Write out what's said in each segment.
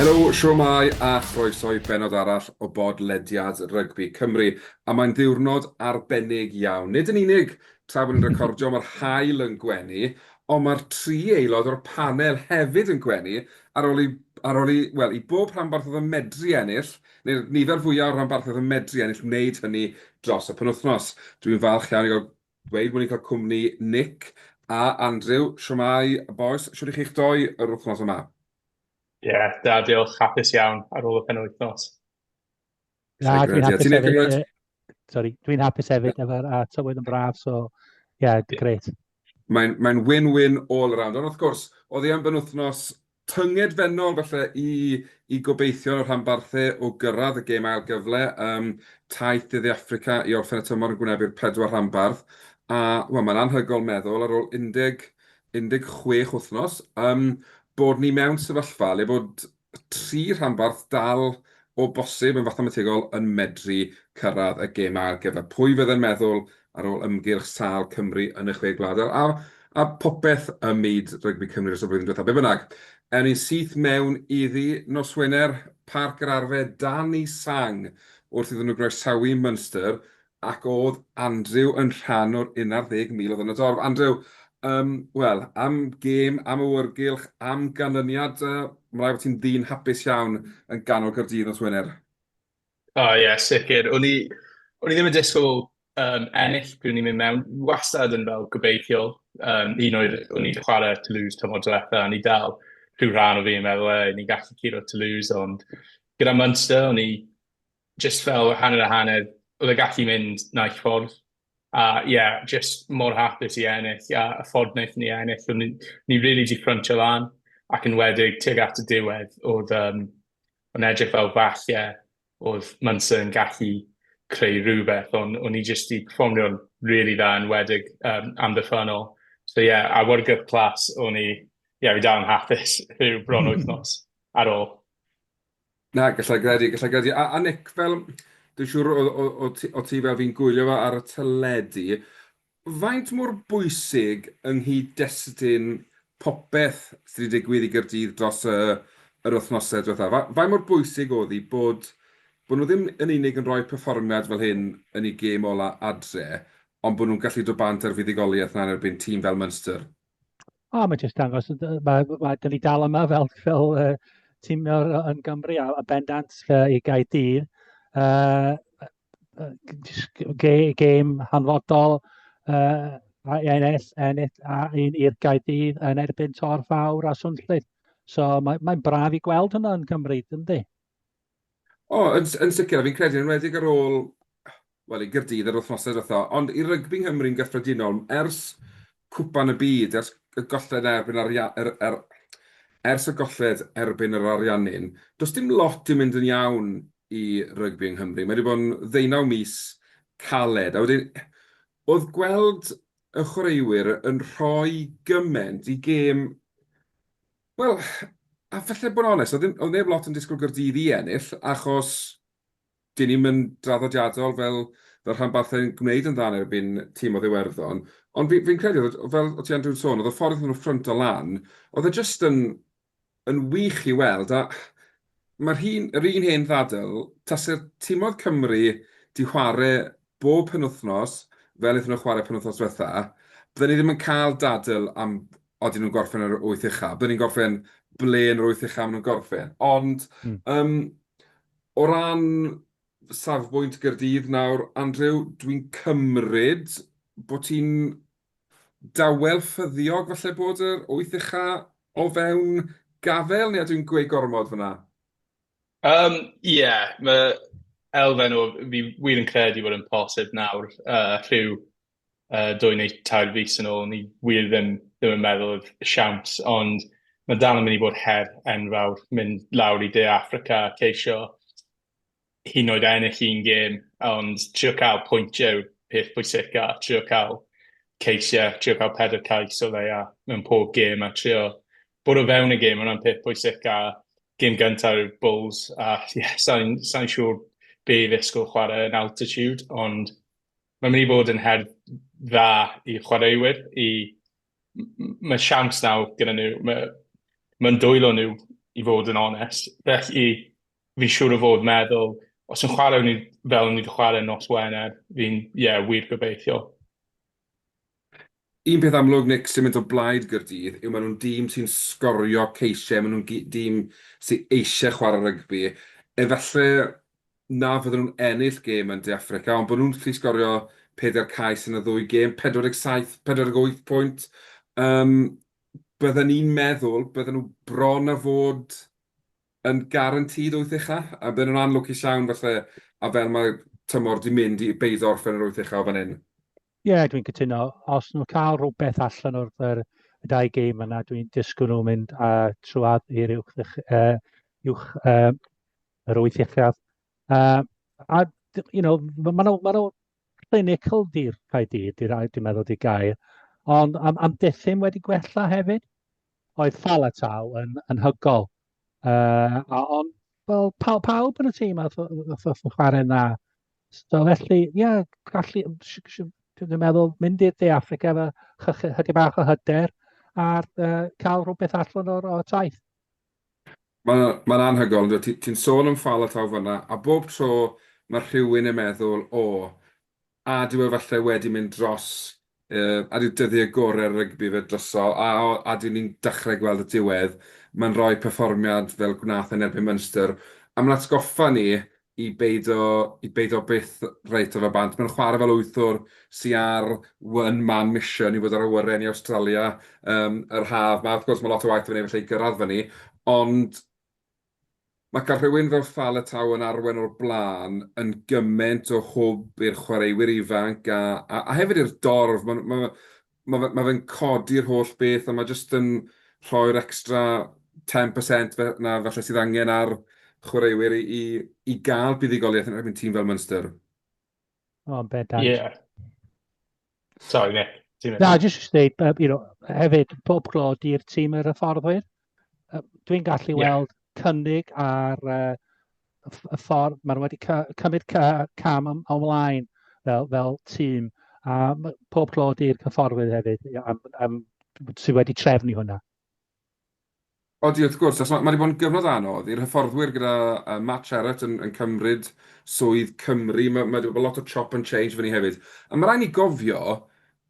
Helo, siwmai a chroeso i bennod arall o bod lediad rygbi Cymru. A mae'n ddiwrnod arbennig iawn. Nid yn unig tra bod ni'n recordio mae'r haul yn gwenu, ond mae'r tri aelod o'r panel hefyd yn gwenu ar ôl i, ar ôl i, wel, i bob rhanbarth oedd yn medru ennill, neu'r nifer fwyaf o'r rhanbarthoedd yn medru ennill, wneud hynny dros y penwythnos. Dwi'n falch iawn i gael Dweud bod ni'n cael cwmni Nick a Andrew. Shwmae bois, shwt i chi'ch doi yr wythnos yma? Ie, da diolch, hapus iawn ar ôl y penwythnos. Da, dwi'n hapus hefyd. Sorry, dwi'n hapus hefyd efo'r a tywydd yn braf, so ie, yeah, grêt. Mae'n mae win-win all around, ond wrth gwrs, oedd hi am benwythnos Tyngedfennol falle i i gobeithio yn y rhanbarthau o gyrraedd y gêm ail gyfle ym taith De Dde Affrica i orffen y tymor yn gwynebu'r pedwar rhanbarth a, wel, mae'n anhygoel meddwl ar ôl 10 16 wythnos yym bod ni mewn sefyllfa le bod tri rhanbarth dal o bosib yn fathemategol yn medru cyrraedd y gêm ail gyfle. Pwy fydde'n meddwl ar ôl ymgyrch sâl Cymru yn y Chwe Gwlad, a, a, a popeth ym myd rygbi Cymru dros y flwyddyn diwethaf. Be bynnag, er ni'n syth mewn iddi nos Wener, Parc yr Arfe, dan i sang wrth iddyn nhw groesawu Munster, ac oedd Andrew yn rhan o'r un ar ddeg mil oedd yn y dorf. Andrew, um, wel, am gêm, am awyrgylch, am ganlyniad, uh, mae rhaid bod ti'n ddyn hapus iawn yn ganol Caerdydd nos Wener. O ie, sicr. O'n i o'n i ddim yn disgwyl, yym, ennill pryd o'n i'n mynd mewn. Wastad yn fel gobeithio, yym, un o'r... o'n i 'di chwarae Toulouse tymor diwetha, o'n i dal rhyw rhan o fi yn meddwl, "Ei, ni'n gallu curo Toulouse." Ond gyda Munster, o'n i jyst fel hanner a hanner. Oedd e'n gallu mynd naill ffordd. A ie, jyst mor hapus i ennill, a y ffordd wnaethon ni ennill, o'n ni ni rili 'di ffryntio lan, ac enwedig tuag at y diwedd, oedd yym o'n edrych fel falle oedd Munster yn gallu creu rhywbeth, ond o'n ni jyst 'di perfformio'n rili dda, enwedig yym amddiffynnol. So ie, awyrgylch clas o'n i, ie, fi dal yn hapus rhyw bron wythnos ar ôl. Na, gallai gredu, gallai gredu. A, a Nick, fel, dwi'n siŵr o, o, o, ti, o ti fel fi'n gwylio fe ar y teledu, faint mor bwysig yng nghyd-destun popeth sydd wedi digwydd i Gyrdydd dros y, yr wythnosau diwetha? Fa, faint mor bwysig oedd hi bod, bod nhw ddim yn unig yn rhoi perfformiad fel hyn yn ei gêm ola adre, ond bod nhw'n gallu dod bant ar fuddugoliaeth na yn erbyn tîm fel Munster? O, mae jyst dangos, mae, mae, da ni dal yma fel, fel uh, tîm yn Gymru a, a bendant uh, i Gaerdydd. Uh, gêm hanfodol uh, a ennill, ennill a un i'r Gaerdydd yn erbyn Tor Fawr a Swnllyd. So mae'n mae braf i gweld hwnna yn Cymru, ynddi? O, yn s- yn sicr, a fi'n credu yn enwedig ar ôl, wel, i Gaerdydd yr wythnosau diwetha', ond i rygbi yng Nghymru'n gyffredinol, ers Cwpan y Byd, ers y golled erbyn Aria- yr- yr- ers y golled erbyn yr Ariannin, does dim lot 'di mynd yn iawn i rygbi yng Nghymru. Mae 'di bod yn ddeunaw mis caled, a wedyn o'dd gweld y chwaraewyr yn rhoi gyment i gêm Wel, a falle bod yn onest, oedd ddim... oedd neb lot yn disgwyl Gaerdydd i ennill, achos dyn ni'm yn draddodiadol fel fel rhanbarthau'n gwneud yn dda yn erbyn tîm oedd Iwerddon. Ond fi fi'n credu oedd, fel o' ti Andrew'n sôn, oedd y ffordd iddyn nhw ffrynto lan, oedd e jyst yn yn wych i weld, a Mae'r hyn, yr un hen ddadl, tase'r timodd Cymru 'di chware bob penwthnos fel aethon nhw chware penwthnos dwetha, bydden ni ddim yn cael dadl am odyn nhw'n gorffen yn yr wyth ucha, bydden ni'n gorffen ble yn yr wyth ucha ma' nhw'n gorffen. Ond yym o ran safbwynt Gaerdydd nawr, Andrew, dwi'n cymryd bo' ti'n dawel ffyddiog falle bod yr wyth ucha o fewn gafael neu ydw i'n gweud gormod fanna? Um, ie, yeah, mae elfen o fi wir yn credu bod yn posib nawr uh, rhyw uh, dwy neu tair fus yn ôl, ni wir ddim, ddim yn meddwl oedd siawns, ond mae dal yn mynd i bod her enfawr mynd lawr i De Africa ceisio hyd yn oed ennill un gêm, ond trio cael pwyntiau yw'r peth pwysica, a trio cael ceisiau, trio cael pedair cais o leia mewn pob gêm, a trio bod o fewn y gêm, hwnna'n peth pwysica. Gêm gyntaf yw'r Bulls, a ie, yeah, sa'n sa siŵr be i ddisgwyl chwarae yn altitude, ond mae'n mynd i fod yn her dda i chwaraewyr, i... mae siawns nawr gyda nhw, mae'n ma dwylo nhw i fod yn onest, felly fi'n siŵr o fod meddwl, os yn chwarae ni fel ni wedi chwarae nos Wener, fi'n, ie, yeah, wir gobeithio. Un peth amlwg, Nick, sy'n mynd o blaid Gyrdydd yw maen nhw'n dîm sy'n sgorio ceisiau, maen nhw'n dîm sy'n eisiau chwarae rygbi. Efallai na fydden nhw'n ennill gêm yn De Affrica, ond bod nhw'n lli sgorio peder cais yn y ddwy gêm, 47, 48 pwynt. Um, bydden ni'n meddwl, bydden nhw bron a fod yn guaranteed wyth ucha, a bydden nhw'n anlwcus iawn falle, a fel mae tymor wedi mynd i beido orffen yr wyth ucha o fan hyn. Ie, yeah, dwi'n cytuno. Os nhw'n cael rhywbeth allan o'r yr, y dau gêm yna, dwi'n disgwyl nhw'n mynd a trwad i'r uwch, uh, uwch uh, yr wyth uchaf. Uh, a, you know, mae nhw, ma nhw clinical di'r cae dyd, dwi'n meddwl di gael. Ond am, am dethyn wedi gwella hefyd. Oedd Fal a Taw yn anhygoel. Uh, a on, well, pa, pawb yn y tîm a oedd chwarae yna. So felly, ie, yeah, gallu, dwi'n meddwl, mynd i'r De Africa efo chydig bach o hyder a uh, cael rhywbeth allan o'r o taith. Mae'n ma anhygoel, ti'n ti sôn am ffal a taw fyna, a bob tro mae rhywun yn meddwl, o, A dyw e falle wedi mynd dros, a dyw dyddie gore'r rygbi fe droso, a o, a dyw ni'n dachre gweld y diwedd, ma'n roi perfformiad fel gwnath e yn erbyn Munster, a ma'n atgoffa ni i beido, i beido byth reit o fe bant. Ma'n chware fel wythwr sy ar one man mission i fod ar awyren i Awstralia, yym, yr haf 'ma. Wrth gwrs ma' lot o waith 'da fe neud falle i gyrradd fyny, ond Mae cael rhywun fel Faletau yn arwain o'r blaen yn gymaint o hwb i'r chwaraewyr ifanc a a a hefyd i'r dorf. Mae'n ma' fe ma' fe ma' fe'n codi'r holl beth a mae jyst yn rhoi'r extra ten percent fe- 'na falle sydd angen ar chwaraewyr i i i gael buddugoliaeth yn erbyn tîm fel Munster. O, yn bendant. Yeah. Sorry, Nick. Na, jyst jyst dweud, uh, you know, hefyd, pob glod i'r tîm yr hyfforddwyr. Uh, Dwi'n gallu yeah. weld cynnig ar uh, y ffordd, maen nhw wedi cymryd cam am ymlaen fel, fel tîm. A pob glod i'r hyfforddwyr hefyd am, am, sydd wedi trefnu hwnna. Odi, wrth gwrs, achos mae 'di bod yn gyfnod anodd i'r hyfforddwyr gyda Matt Sherratt yn cymryd swydd Cymru. Mae 'di bod lot o chop and change fyny hefyd. Ond mae rhaid ni gofio,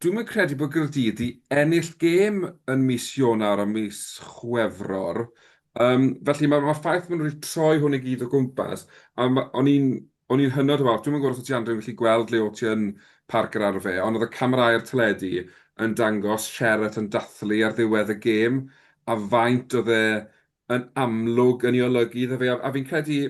dwi'm yn credu bod Gaerdydd 'di ennill gêm yn mis Ionawr a mis Chwefror. Felly, mae'r ffaith bod nhw 'di troi hwn i gyd o gwmpas, a o'n i'n O'n i'n hynod o falch. Dwi'm yn gwybod os o't ti Andrew yn gallu gweld le o't ti yn Parc yr Arfe, ond oedd y camerâu'r teledu yn dangos Sherratt yn dathlu ar ddiwedd y gêm, a faint oedd e yn amlwg yn ei olygu iddo fe. A fi'n credu,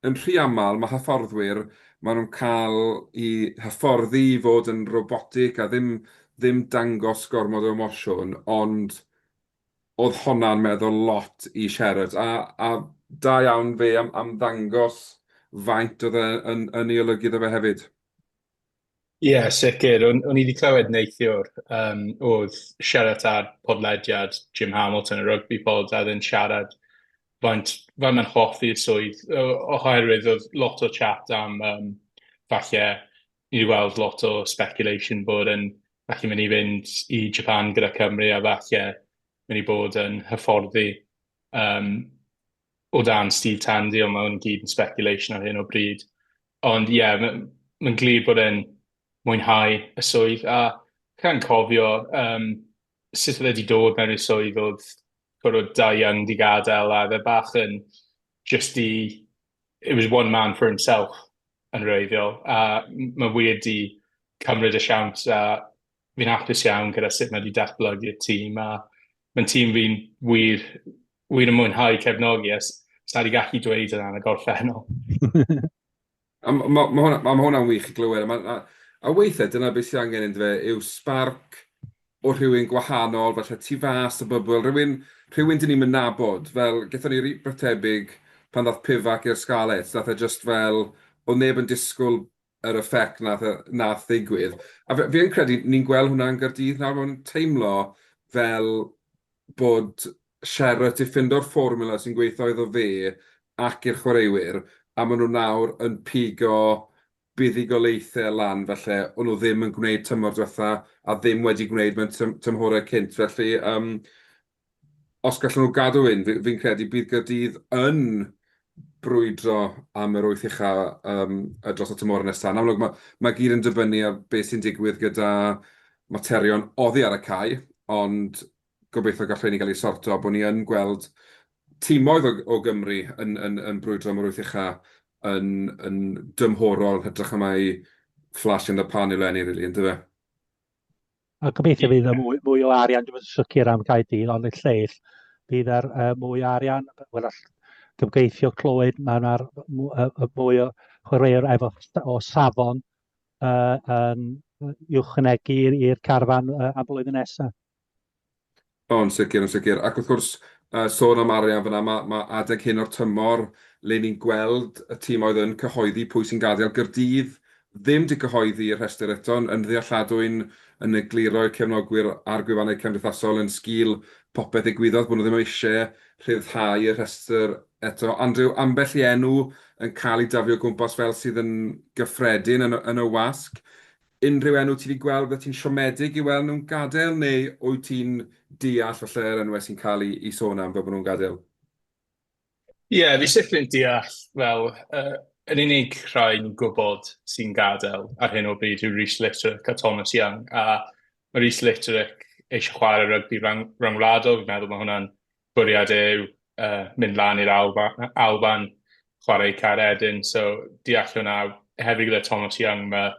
yn rhy aml, mae hyfforddwyr, maen nhw'n cael eu hyfforddi i fod yn robotic a ddim ddim dangos gormod o emosiwn, ond Oedd honna'n meddwl lot i Sherratt, a a da iawn fe am am ddangos faint oedd e yn yn ei olygu iddo fe hefyd. Ie, sicr. O'n, o'n i wedi clywed neithiwr, um, oedd Sherratt ar podlediad Jim Hamilton, y rugby pod, a ddyn siarad faint, faint mae'n hoffi'r swydd, oherwydd oedd lot o chat am um, falle ni 'di weld lot o speculation bod e'n gallu mynd i fynd i Japan gyda Cymru a falle mynd i bod yn hyfforddi um, o dan Steve Tandy, ond mae hwn gyd yn speculation ar hyn o bryd. Ond ie, yeah, mae'n ma glir bod e'n mwynhau y swydd, a gan cofio um, sut oedd wedi dod mewn i'r swydd oedd bod o da iawn di gadael, a fe bach yn just i it was one man for himself yn wreiddiol, a mae wir di cymryd y siawns a fi'n hapus iawn gyda sut mae wedi datblygu'r tîm a mae'n tîm fi'n wir, wir yn mwynhau cefnogi a sa wedi gallu dweud yna yn y gorffennol. a mae ma, ma hwnna'n ma hwnna wych i glywed. A, ma, a, a weithiau dyna beth sydd angen yn dweud yw sbarc o rhywun gwahanol, falle tu fas y bybl, rhywun, rhywun dyn ni'm yn nabod, fel, gethon ni rywbeth tebyg pan ddaeth Pivac i'r Scarlets, wnaeth e jyst fel, oedd neb yn disgwyl yr effect wnaeth e, wnaeth ddigwydd, a f- fi yn credu ni'n gweld hwnna yn Gaerdydd nawr, mae'n teimlo fel bod Sherratt 'di ffindo'r fformula sy'n gweithio iddo fe ac i'r chwaraewyr, a maen nhw nawr yn pigo buddugoliaethau lan falle o'n nhw ddim yn gwneud tymor diwetha' a ddim wedi gwneud mewn tymhorau cynt felly yym os gallen nhw gadw hyn fi fi'n credu bydd Caerdydd yn brwydro am yr wyth ucha' yym dros y tymhorau nesa'. Yn amlwg ma' ma' i gyd yn dibynnu ar be sy'n digwydd gyda materion oddi ar y cae ond gobeithio gall rheini gael eu sorto, bod ni yn gweld timoedd o o Gymru yn yn yn brwydro am yr wyth ucha yn yn dymhorol yn hytrach na mai flash in the pan yw Lenny rili yndyfe? A gobeithio bydd y mwy, mwy o arian, dwi'n yn sicr am Caerdydd, ond y lleill, bydd ar uh, mwy o arian, wel all gymgeithio clywed, mae yna mwy o chwaraewr efo o safon uh, um, i'w chynegu i'r carfan uh, am blwyddyn nesaf. O, yn sicr, yn sicr. Ac wrth gwrs, sôn am arian fan'na, mae adeg hyn o'r tymor le ni'n gweld y timoedd yn cyhoeddi pwy sy'n gadael. Gaerdydd ddim 'di cyhoeddi y rhestr eto, yn ddealladwy'n yn egluro i'r cefnogwyr a'r gwefannau cymdeithasol yn sgil popeth ddigwyddodd bod nhw ddim eisiau rhyddhau y rhestr eto. Andrew, ambell i enw yn cael ei daflu o gwmpas fel sydd yn gyffredin yn y wasg. Unrhyw enw ti 'di gweld byddet ti'n siomedig i weld nhw'n gadael neu wyt ti'n deall falle yr enwau sy'n cael eu eu sôn am fel bod nhw'n gadael? Ie, fi sicr yn deall fel yy yr unig rhai ni'n gwybod sy'n gadael ar hyn o bryd yw Reece Litterick a Thomas Young a ma' Reece Litterick eisiau chwarae rygbi rang- ryngwladol, fi'n meddwl ma' hwnna'n bwriad yw uh, mynd lan i'r Alba, Alban, chwarae cair edyn, so deall hwnna, hefyd gyda Thomas Young, mae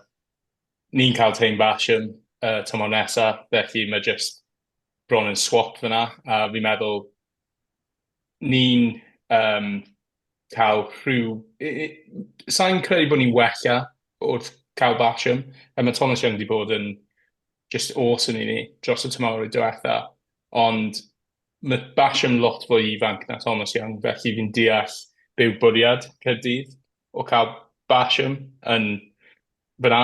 ni'n cael teim basiwn uh, tymor nesaf, felly mae jyst bron yn swap fyna, a fi'n meddwl ni'n um, cael rhyw... Sa'n credu bod ni'n wella wrth cael basiwn, a mae Thomas Young wedi bod yn just awesome i ni dros y tymor i diwetha, ond ma' Bash yn lot fwy ifanc na Thomas Young, felly fi'n deall be yw bwriad Caerdydd o cael Basham yn fyna.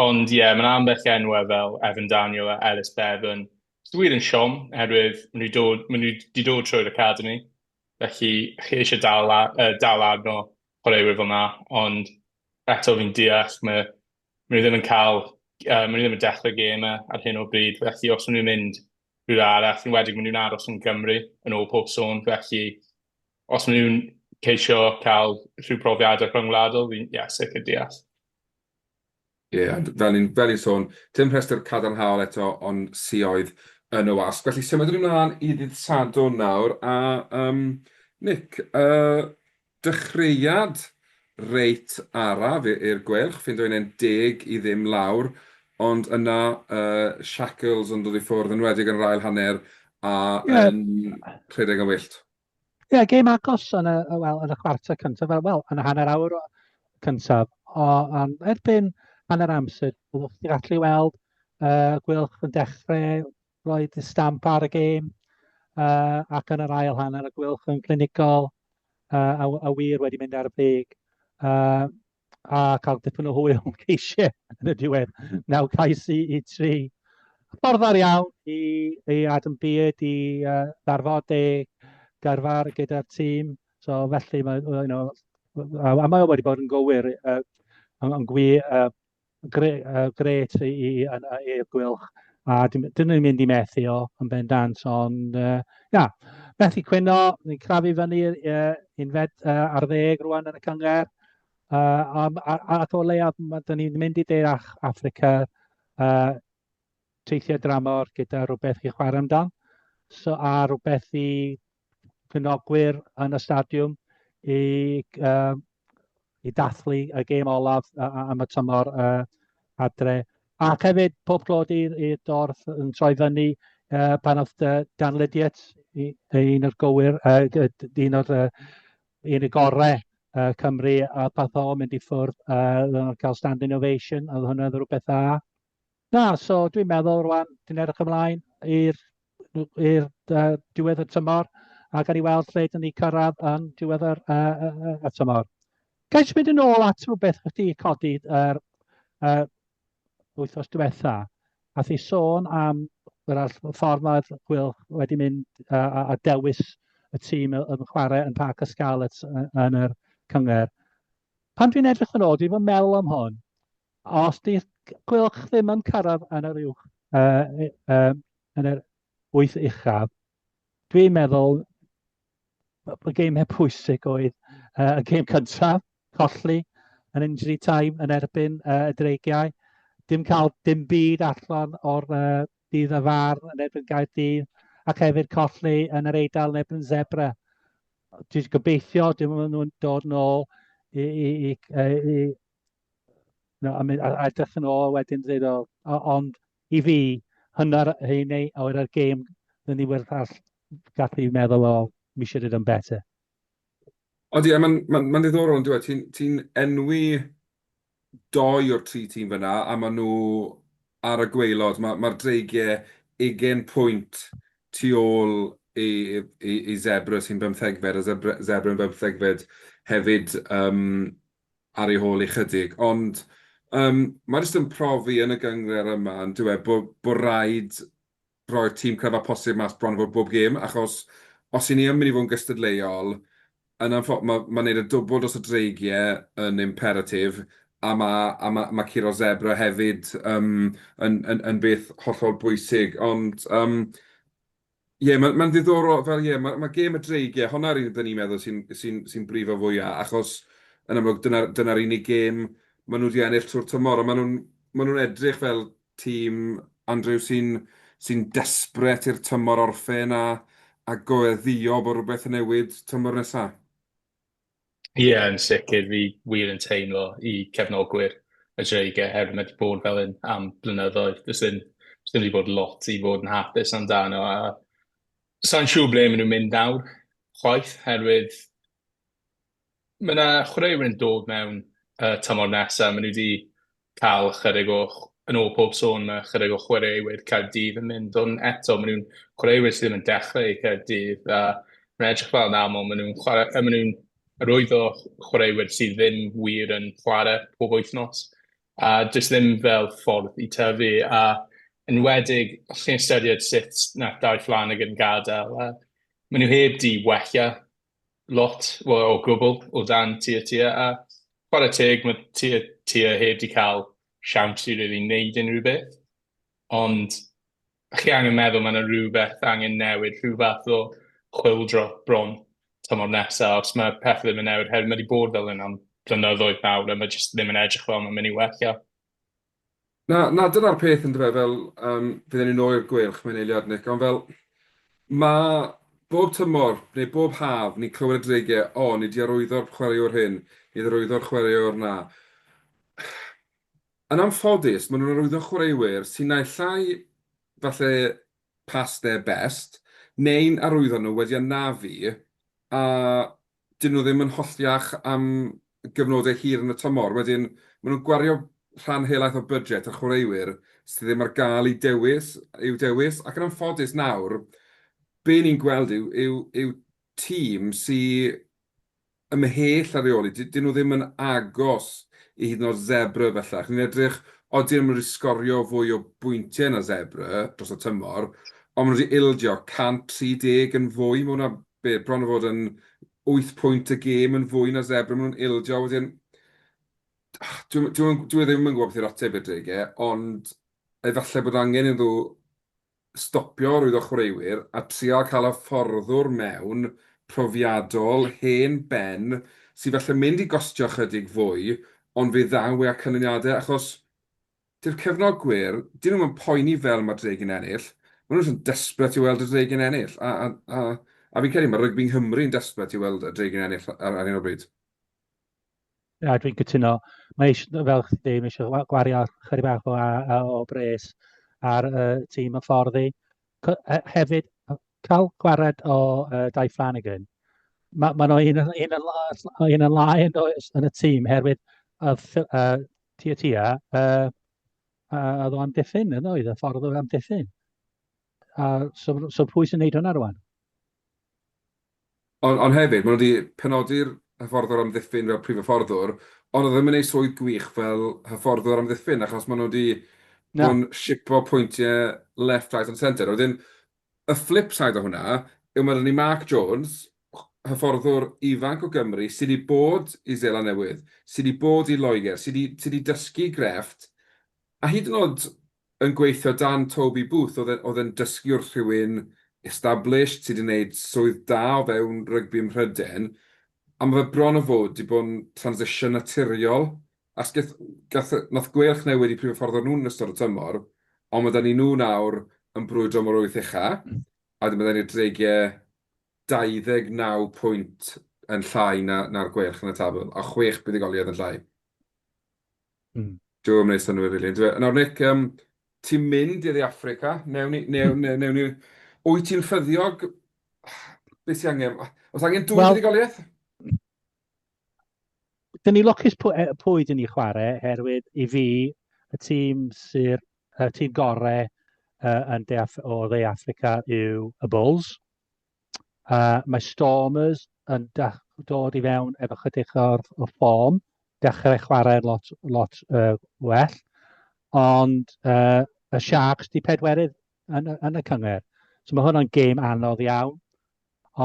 Ond ie, mae'n ambell i enwau fel Evan Daniel a Ellis Bevan. Dwi wir yn siom, oherwydd maen nhw dod, maen nhw wedi dod trwy'r academi, felly chi eisiau dal, uh, dal arno chwaraewyr fel yna, ond eto fi'n deall, mae maen nhw ddim yn cael, uh, maen nhw ddim yn dechrau gêm e ar hyn o bryd, felly os maen nhw'n mynd rhywle arall, yn wedig maen nhw'n aros yn Gymru yn ôl pob sôn, felly os maen nhw'n ceisio cael rhyw profiadau rhyngwladol, fi'n yeah, sicr deall. Ie, yeah, fel i'n fel sôn, dim rhestr cadarnhaol eto o'n sioedd yn y wasg. Felly symud ni'n mlaen i ddydd Sadwrn nawr, a um, Nick, uh, Dechreuad reit araf i'r Gweilch, fi'n dweud 11 i ddim lawr, ond yna y shackles yn dod i ffwrdd, yn enwedig yn yr ail hanner a yn rhedeg yn wyllt. Ie, yeah, gêm agos yn y, well, yn y chwarter cyntaf, fel, well, yn y hanner awr cyntaf. O, um, erbyn hanner amser, byddwch chi'n gallu weld uh, Gwylch yn dechrau Roedd y stamp ar y gêm uh, ac yn yr ail hanner y gwylch yn glinigol uh, a, a wir wedi mynd ar y brig. Uh, a cael dipyn o hwyl yn ceisiau yn y diwedd. Naw cais i, i tri. Ffordd ar iawn i, i Adam Beard i uh, ddarfod ei garfar gyda'r tîm. So felly, mae, you know, a mae o wedi bod yn gywir, uh, yn, yn gwi, uh, Gret i Eir Gwylch a dyn ni'n mynd i methu o yn bendant ond ia, methu cwyno, ni'n crafu fyny unfed ar ddeg rwan yn y cyngerdd ac o leiaf dyn ni'n mynd i De Affrica teithiau dramor gyda rhywbeth i chwarae amdan so a rhywbeth i cynogwyr yn y stadiwm i uh, i dathlu y gêm olaf am y tymor uh, adre. Ac hefyd pob clod i'r dorth yn troi fyny uh, pan oedd uh, Dan Lydiet, un o'r gywir, uh, un o'r uh, un y gorau uh, Cymru, a path o mynd i ffwrdd uh, cael stand innovation, oedd hwnna'n rhywbeth dda. Na, so dwi'n meddwl rwan, dwi'n edrych ymlaen i'r i'r uh, diwedd y tymor a gan i weld lle dyn ni cyrraedd yn diwedd yr, uh, uh, y tymor. Gael eisiau mynd yn ôl at rhywbeth chdi codi yr uh, wythnos diwetha, a thi sôn am yr ffordd mae'r Wil wedi mynd uh, a dewis y tîm yn chwarae yn Parc y Scarlets yn yr cyngor. Pan dwi'n edrych yn ôl, dwi'n fy meddwl am hwn, A os 'di cylch ddim yn cyrraedd yn yr uwch yy yym yn yr wyth uchaf, dwi'n meddwl b- bod gemau pwysig oedd yy y gêm cyntaf, colli yn injury time yn erbyn yy y Dreigiau, dim cael dim byd allan o'r yy dydd y far yn erbyn Caerdydd, ac hefyd colli yn yr Eidal yn erbyn Zebre. Dwi'n gobeithio dim ond nhw'n dod nôl i i i yy i a, a, a edrych yn ôl wedyn dweud, o, ond i fi, hynna'r hyn ei, o'r ar gêm, dyn ni werth all gath i meddwl o, mi should have done better. Ond ie, mae'n ma, ma ddiddorol yn dweud, ti'n ti enwi doi o'r tri tîm fyna, a maen nhw ar y gweilod, mae'r ma, ma dreigiau ugen pwynt tu ôl i, i, i Zebra sy'n bymthegfed, a Zebra, Zebra yn bymthegfed hefyd. Um, ar ei hôl ychydig, ond yym mae jyst yn profi yn y gynghrair yma yn dyw e bod bod raid roi'r tîm cryfa posib mas bron a bod bob gêm achos os i ni yn mynd i fod yn gystadleuol yn anffo- ma' ma' neud y dwbwl dros y dreigie yn imperatif a ma' a ma' ma' curo sebra hefyd yym yn yn yn beth hollol bwysig ond yym Ie, mae'n ma ddiddorol, fel ie, mae ma gêm y dreig, ie, hwnna rydyn ni'n meddwl sy'n sy sy brifo fwyaf, achos yn amlwg dyna'r dyna unig gêm maen nhw wedi ennill trwy'r tymor, a maen nhw'n maen nhw'n edrych fel tîm, Andrew, sy'n sy'n desperate i'r tymor orffen a a gweddïo bod rhywbeth yn newid tymor nesaf. Ie, yn sicr, fi wir yn teimlo i cefnogwyr y Dreigiau oherwydd mae 'di bod fel hyn am blynyddoedd. Does dim, does dim wedi bod lot i fod yn hapus amdano a sa'n siŵr ble maen nhw'n mynd nawr chwaith oherwydd mae yna chwaraewyr yn dod mewn y tymor nesaf, maen nhw wedi cael ychydig o, yn ôl pob sôn, mae ychydig o chwaraewyr Caerdydd yn mynd, ond eto, maen nhw'n chwaraewyr sydd ddim yn dechrau i Caerdydd, a mae'n edrych fel yn aml, maen nhw'n chwarae, maen nhw'n rhwydd o chwaraewyr sydd ddim wir yn chwarae pob wythnos, a does ddim fel ffordd i tyfu, a yn wedig, os chi'n ystyried sut nath Dai Fflanagan gadael, a maen nhw heb di wella lot, wel o gwbl, o dan tua tua, a chwarae teg, mae tua tua heb di cael siawns i really wneud unrhyw beth. Ond chi angen meddwl, mae yna rhywbeth angen newid, rhyw fath o chwildro bron tymor nesaf, os mae pethau ddim yn newid, herwydd mae wedi bod fel hyn am flynyddoedd nawr, a mae jyst ddim yn edrych fel mae'n mynd i wella. Na, na, dyna'r peth yn dyfe, fel um, fydden ni nôl i'r gweilch, mae'n eiliad Nick, ond fel mae bob tymor neu bob haf ni'n clywed y dreigiau, o, oh, ni di arwyddo'r chwaraewr hyn, ni di arwyddo'r chwaraewr na. Yn amffodus, maen nhw'n arwyddo chwaraewyr sy'n naill llai falle past their best, neu'n arwyddo nhw wedi anafu, a 'dyn nhw ddim yn hollti iach am gyfnodau hir yn y tymor. Wedyn, maen nhw'n gwario rhan helaeth o budget ar chwaraewyr sydd ddim ar gael i dewis, i'w dewis, ac yn anffodus nawr, be ni'n gweld yw, yw, yw tîm sy ymhell ar reoli, 'dyn nhw ddim yn agos i hyd yn oed Zebre bellach. Ni'n edrych, odi nhw'n mynd i sgorio fwy o bwyntiau na Zebre dros y tymor, ond maen nhw wedi ildio 130 yn fwy, mae hwnna be, bron a bod yn wyth pwynt y gêm yn fwy na Zebre, maen nhw'n ildio, wedyn, dwi, dwi, dwi e ddim yn gwybod beth yw'r ateb i'r deg e, ond efallai bod angen iddo stopio rwyddo chwaraewyr a trial cael hyfforddwr mewn profiadol, hen ben, sy'n falle mynd i gostio chydig fwy, ond fe ddaw e â canlyniadau, achos Dyw'r cefnogwyr, dyn nhw'm yn poeni fel mae'r Dregyn ennill, maen nhw jyst yn desperate i weld y Dregyn ennill, a, a, a, a fi'n credu mae rygbi Nghymru yn desperate i weld y Dregyn ennill ar, ar hyn o bryd. Na, dwi'n cytuno. Mae eisiau, fel chdi dweud, mae eisiau gwario chyri bach o, o, o bres ar y uh, tîm y fforddi. Hefyd, cael gwared o uh, Dai Flanagan, mae ma nhw un, un, un, un yn lai yn, yn y tîm, herwydd y uh, Tua tua, a a oedd o amddiffyn yn oedd, y ffordd oedd amddiffyn. A so, so pwy sy'n neud hwnna rwan? Ond on hefyd, maen nhw wedi penodi'r hyfforddwr amddiffyn fel prif hyfforddwr, ond oedd e ddim yn ei swydd gwych fel hyfforddwr amddiffyn, achos maen nhw wedi bod yn sipo pwyntiau left, right and centre. Wedyn, Y fflip said o hwnna yw ma' 'da ni Mark Jones, hyfforddwr ifanc o Gymru sy' 'di bod i Seland Newydd, sy' 'di bod i Loegr, sy' 'di sy' 'di dysgu grefft, a hyd yn o'd yn gweithio dan Toby Booth o'dd e'n o'dd e'n dysgu wrth rhywun established sy' 'di neud swydd da o fewn rygbi ym Mhryden, a ma' fe bron o fod 'di bod yn transition naturiol Asgell, gath, nath gweilch newid i prif hyfforddwr nhw yn ystod y tymor, ond ma' 'da ni nhw nawr yn brwydro am yr wyth ucha, a wedyn ma' 'da ni'r Dreigie 29 pwynt yn llai na, na'r Gweilch yn y tabl, a chwech buddugoliaeth yn llai. Mm. Dyw e ddim yn neud synnwyr rili, yndyw e? Nawr Nick, um, ti'n mynd i Dde Affrica, newn ni, newn, newn, newn ni... Wyt ti'n ffyddiog? Beth sy'n angen? Os angen dwy well, buddugoliaeth? dyn ni lwcus pwy, e, pwy dyn ni chwarae, herwydd i fi, y tîm sy'r y tîm gorau uh, yn de Af o dde Africa yw y Bulls. Uh, mae Stormers yn dod i fewn efo chydig o'r, o'r ffom, dechrau chwarae lot, lot uh, well, ond uh, y Sharks di pedwerydd yn, yn y cyngor. So mae hwnna'n gêm anodd iawn.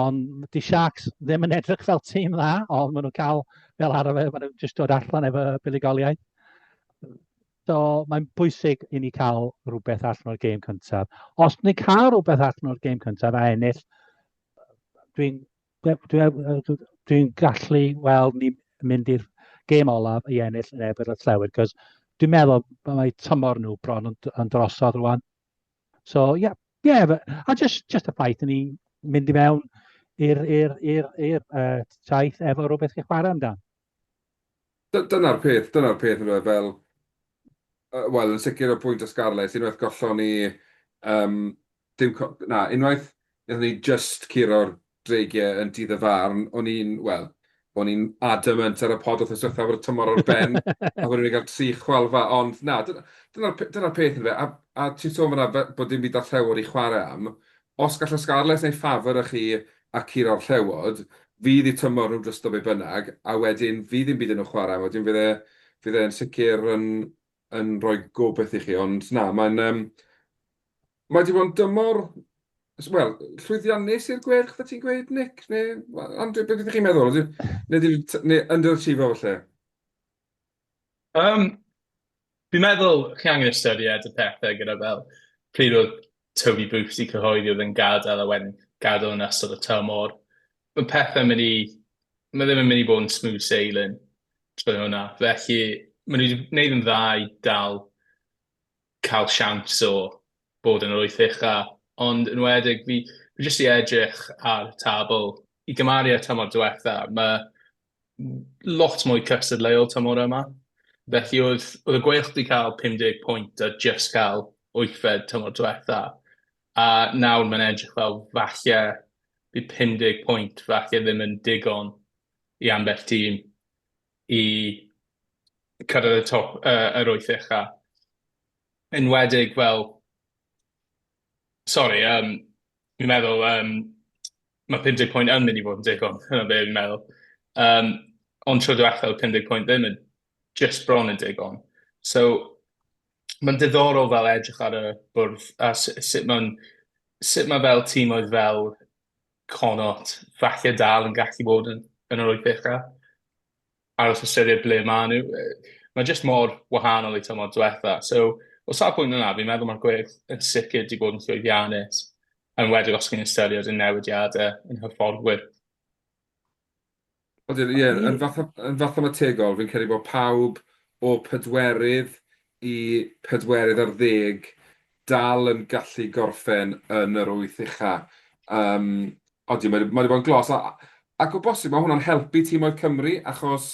Ond 'di Sharks ddim yn edrych fel tîm dda, ond maen nhw'n cael fel arfer, maen nhw'n jyst dod allan efo buddugoliaeth. So mae'n bwysig i ni cael rhywbeth allan o'r gêm cyntaf. Os ni'n cael rhywbeth allan o'r gêm cyntaf a ennill, dwi'n dwi, dwi, dwi gallu weld ni mynd i'r gêm olaf i ennill yn ebyd y llewyd, cos dwi'n meddwl mae tymor nhw bron yn, yn drosodd rwan. So, ie, yeah, yeah, but, a just, just y ffaith ni mynd i mewn i'r uh, traeth efo rhywbeth chi'n chwarae amdan. Dyna'r peth, dyna'r peth yn fel, uh, wel, yn sicr o bwynt o Scarlett, unwaith gollon ni, um, dim, na, unwaith, Nethon ni just curo'r dreigiau yn dydd y farn, o'n i'n, wel, o'n i'n adamant ar y pod wrth ysgrifennu bod y tymor o'r ben, a bod ni'n cael tri chwalfa, ond na, dyna'r dyna, dyna peth yn fe, a, a ti'n sôn fyna bod dim byd ar llewod i chwarae am, os gallai Scarlets neu ffafr â chi a cur o'r llewod, fydd i tymor nhw'n drysto be bynnag, a wedyn fydd dim byd yn nhw chwarae, wedyn fydd e, fydd e'n sicr yn, yn rhoi gobeith i chi, ond na, mae'n, um, Mae 'di bod yn dymor, wel, llwyddiannus i'r Gweilch, fe ti'n gweud, Nick? Neu, Andrew, beth ydych chi'n meddwl? Neu, neu, neu underachiever falle? Um, fi'n meddwl chi angen ystyried y pethau gyda fel pryd oedd Toby Booth i cyhoeddi oedd yn gadael a wedyn gadael yn ystod y tymor. Mae pethau mynd i... Mae ddim yn mynd i bod yn smooth sailing trwy hwnna. Felly, maen nhw wedi gwneud yn dda i dal cael siawns o bod yn yr wyth ucha, ond yn wedig fi fi jyst 'di edrych ar y tabl i gymaru â'r tymor diwetha, ma' lot mwy cystadleuol tymor yma. Felly oedd oedd y Gweilch 'di cael 50 pwynt a jyst cael wythfed tymor diwetha, a nawr mae'n edrych fel falle bydd 50 pwynt falle ddim yn digon i ambell tîm. i cyrraedd y top yy yr wyth ucha. Enwedig fel... Sori yym fi'n meddwl yym ma' pum deg pwynt yn mynd i fod yn digon, dyna be' fi'n meddwl. Yym ond tro dwetha odd pum deg pwynt ddim yn jyst bron yn digon. So ma'n diddorol fel edrych ar y bwrdd a s- sut ma'n sut ma' fel tîmoedd fel Connaught falle dal yn gallu bod yn, yn yr wyth ucha. Aros ystyried ble maen nhw. Mae jyst mor wahanol i tymor diwetha. So, o safbwynt yna, fi'n meddwl mae'r gwyrdd yn sicr wedi bod yn llwyddiannus, yn wedr os chi'n ystyried y newidiadau yn hyfforddwyr. Ond ie, ie, yn fatha, yn fatha mae tegol, fi'n credu bod pawb o pedwerydd i pedwerydd ar ddeg dal yn gallu gorffen yn yr wyth ucha. Um, ond ie, mae wedi bod yn glos. A, ac o bosib, mae hwnna'n helpu tîmoedd Cymru, achos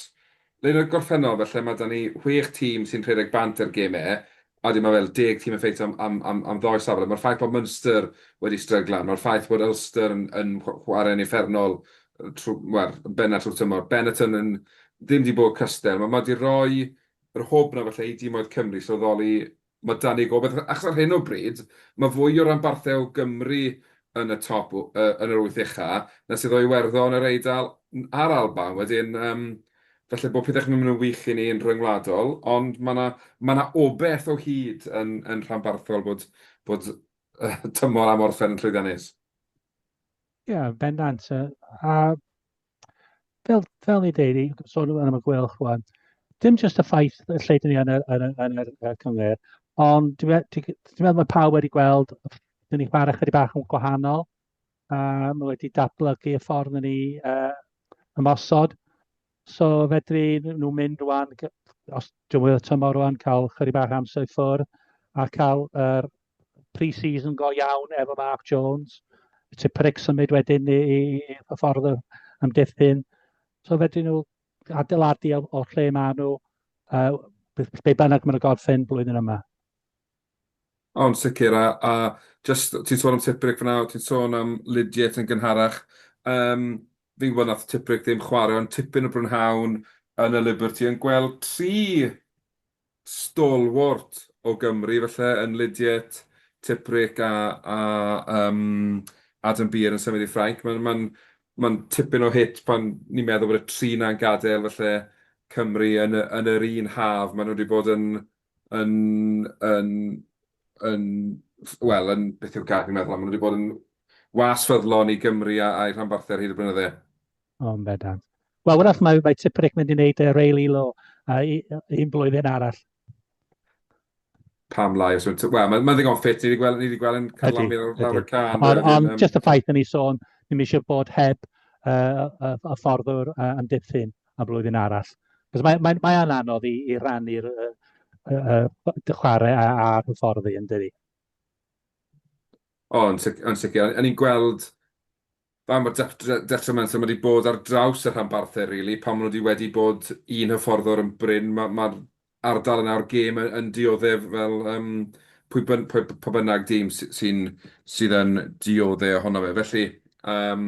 le yn y gorffennol, felly mae da ni chwech tîm sy'n rhedeg bant ar gemau, Ydy, mae fel deg tîm yn ffeitio am ddoi safle. Mae'r ffaith bod Munster wedi stryglan, mae'r ffaith bod Ulster yn chwarae'n uffernol yn bennaf trwy'r tymor, Benetton yn ddim wedi bod cystal, mae wedi rhoi yr hwb 'na falle i dimoedd Cymru sylweddoli mae 'da ni gobaith, achos ar hyn o bryd mae fwy o ranbarthau o Gymru yn y top, yn yr wyth ucha, na sydd o Iwerddon, yr Eidal a'r Alban. Wedyn, Falle bod pethau ddim yn wych i ni yn rhyngwladol, ond mae 'na mae 'na obaith o hyd yn yn rhanbarthol bod bod tymor am orffen yn llwyddiannus. Ie, yeah, bendant. A fel, fel ni dweud, i sôn yn am y gwelch rwan, dim jyst y ffaith y lle dyn ni yn yr, yn, yn yr, yn cyngor, ond dwi'n meddwl mae pawb wedi gweld, dyn ni chwarae chydig bach yn gwahanol, Mae um, wedi datblygu y ffordd yn ni uh, ymosod. So fedri nhw mynd rwan, os dwi'n wyth tymor rwan, cael chyri bach amser i ffwrdd a cael yr uh, pre-season go iawn efo Mark Jones. Ti pric symud wedyn i, i, i y ffordd am diffyn. So fedri nhw adeiladu o'r lle maen nhw, uh, be bynnag maen nhw gorffen blwyddyn yma. O, yn sicr, a, a jyst, ti'n sôn am Tipuric fyna, o, ti'n sôn am Lydiate yn gynharach. Um, fi'n gwybod nath Tipuric ddim chwarae, ond tipyn o brynhawn yn y Liberty yn gweld tri stalwart o Gymru, felly yn Lydiate, Tipuric a, a um, Adam Beer yn symud i Ffrainc. Mae'n ma ma tipyn o hit pan ni'n meddwl bod y tri na'n gadael, felly Cymru yn, yn yr un haf. Maen nhw wedi bod yn yn, yn, yn, wel, yn, beth yw'r gair fi'n meddwl am, maen nhw wedi bod yn was ffyddlon i Gymru a'i rhanbarthau ar hyd y blynydde. O, yn bendant. Wel, wrach, mae, mae Tiprick mynd i wneud uh, Ray Lilo uh, un blwyddyn arall. Pam lai, os yw'n... Wel, mae'n ma ddigon ffit, ni wedi gweld, ni wedi gweld yn carlamu ar lawr y can. Ond on, just y ffaith yn ei sôn, ni'n eisiau bod heb uh, y, y fforddwr uh, yn diffyn. am flwyddyn arall. Cos mae, mae, mae anodd i, i rannu'r uh, uh, uh, chwarae a, a hyfforddi yn dydi. O, yn sicr. Yn i'n gweld fa mae'r detrimental mae wedi bod ar draws y rhanbarthau, rili. Really. Pan maen nhw wedi wedi bod un hyfforddwr yn bryn, mae'r ma, ma ardal yna o'r gêm yn, yn dioddef fel um, pwy, byn, pwy, pwy bynnag dîm sy'n sydd yn dioddef ohono fe. Felly, um,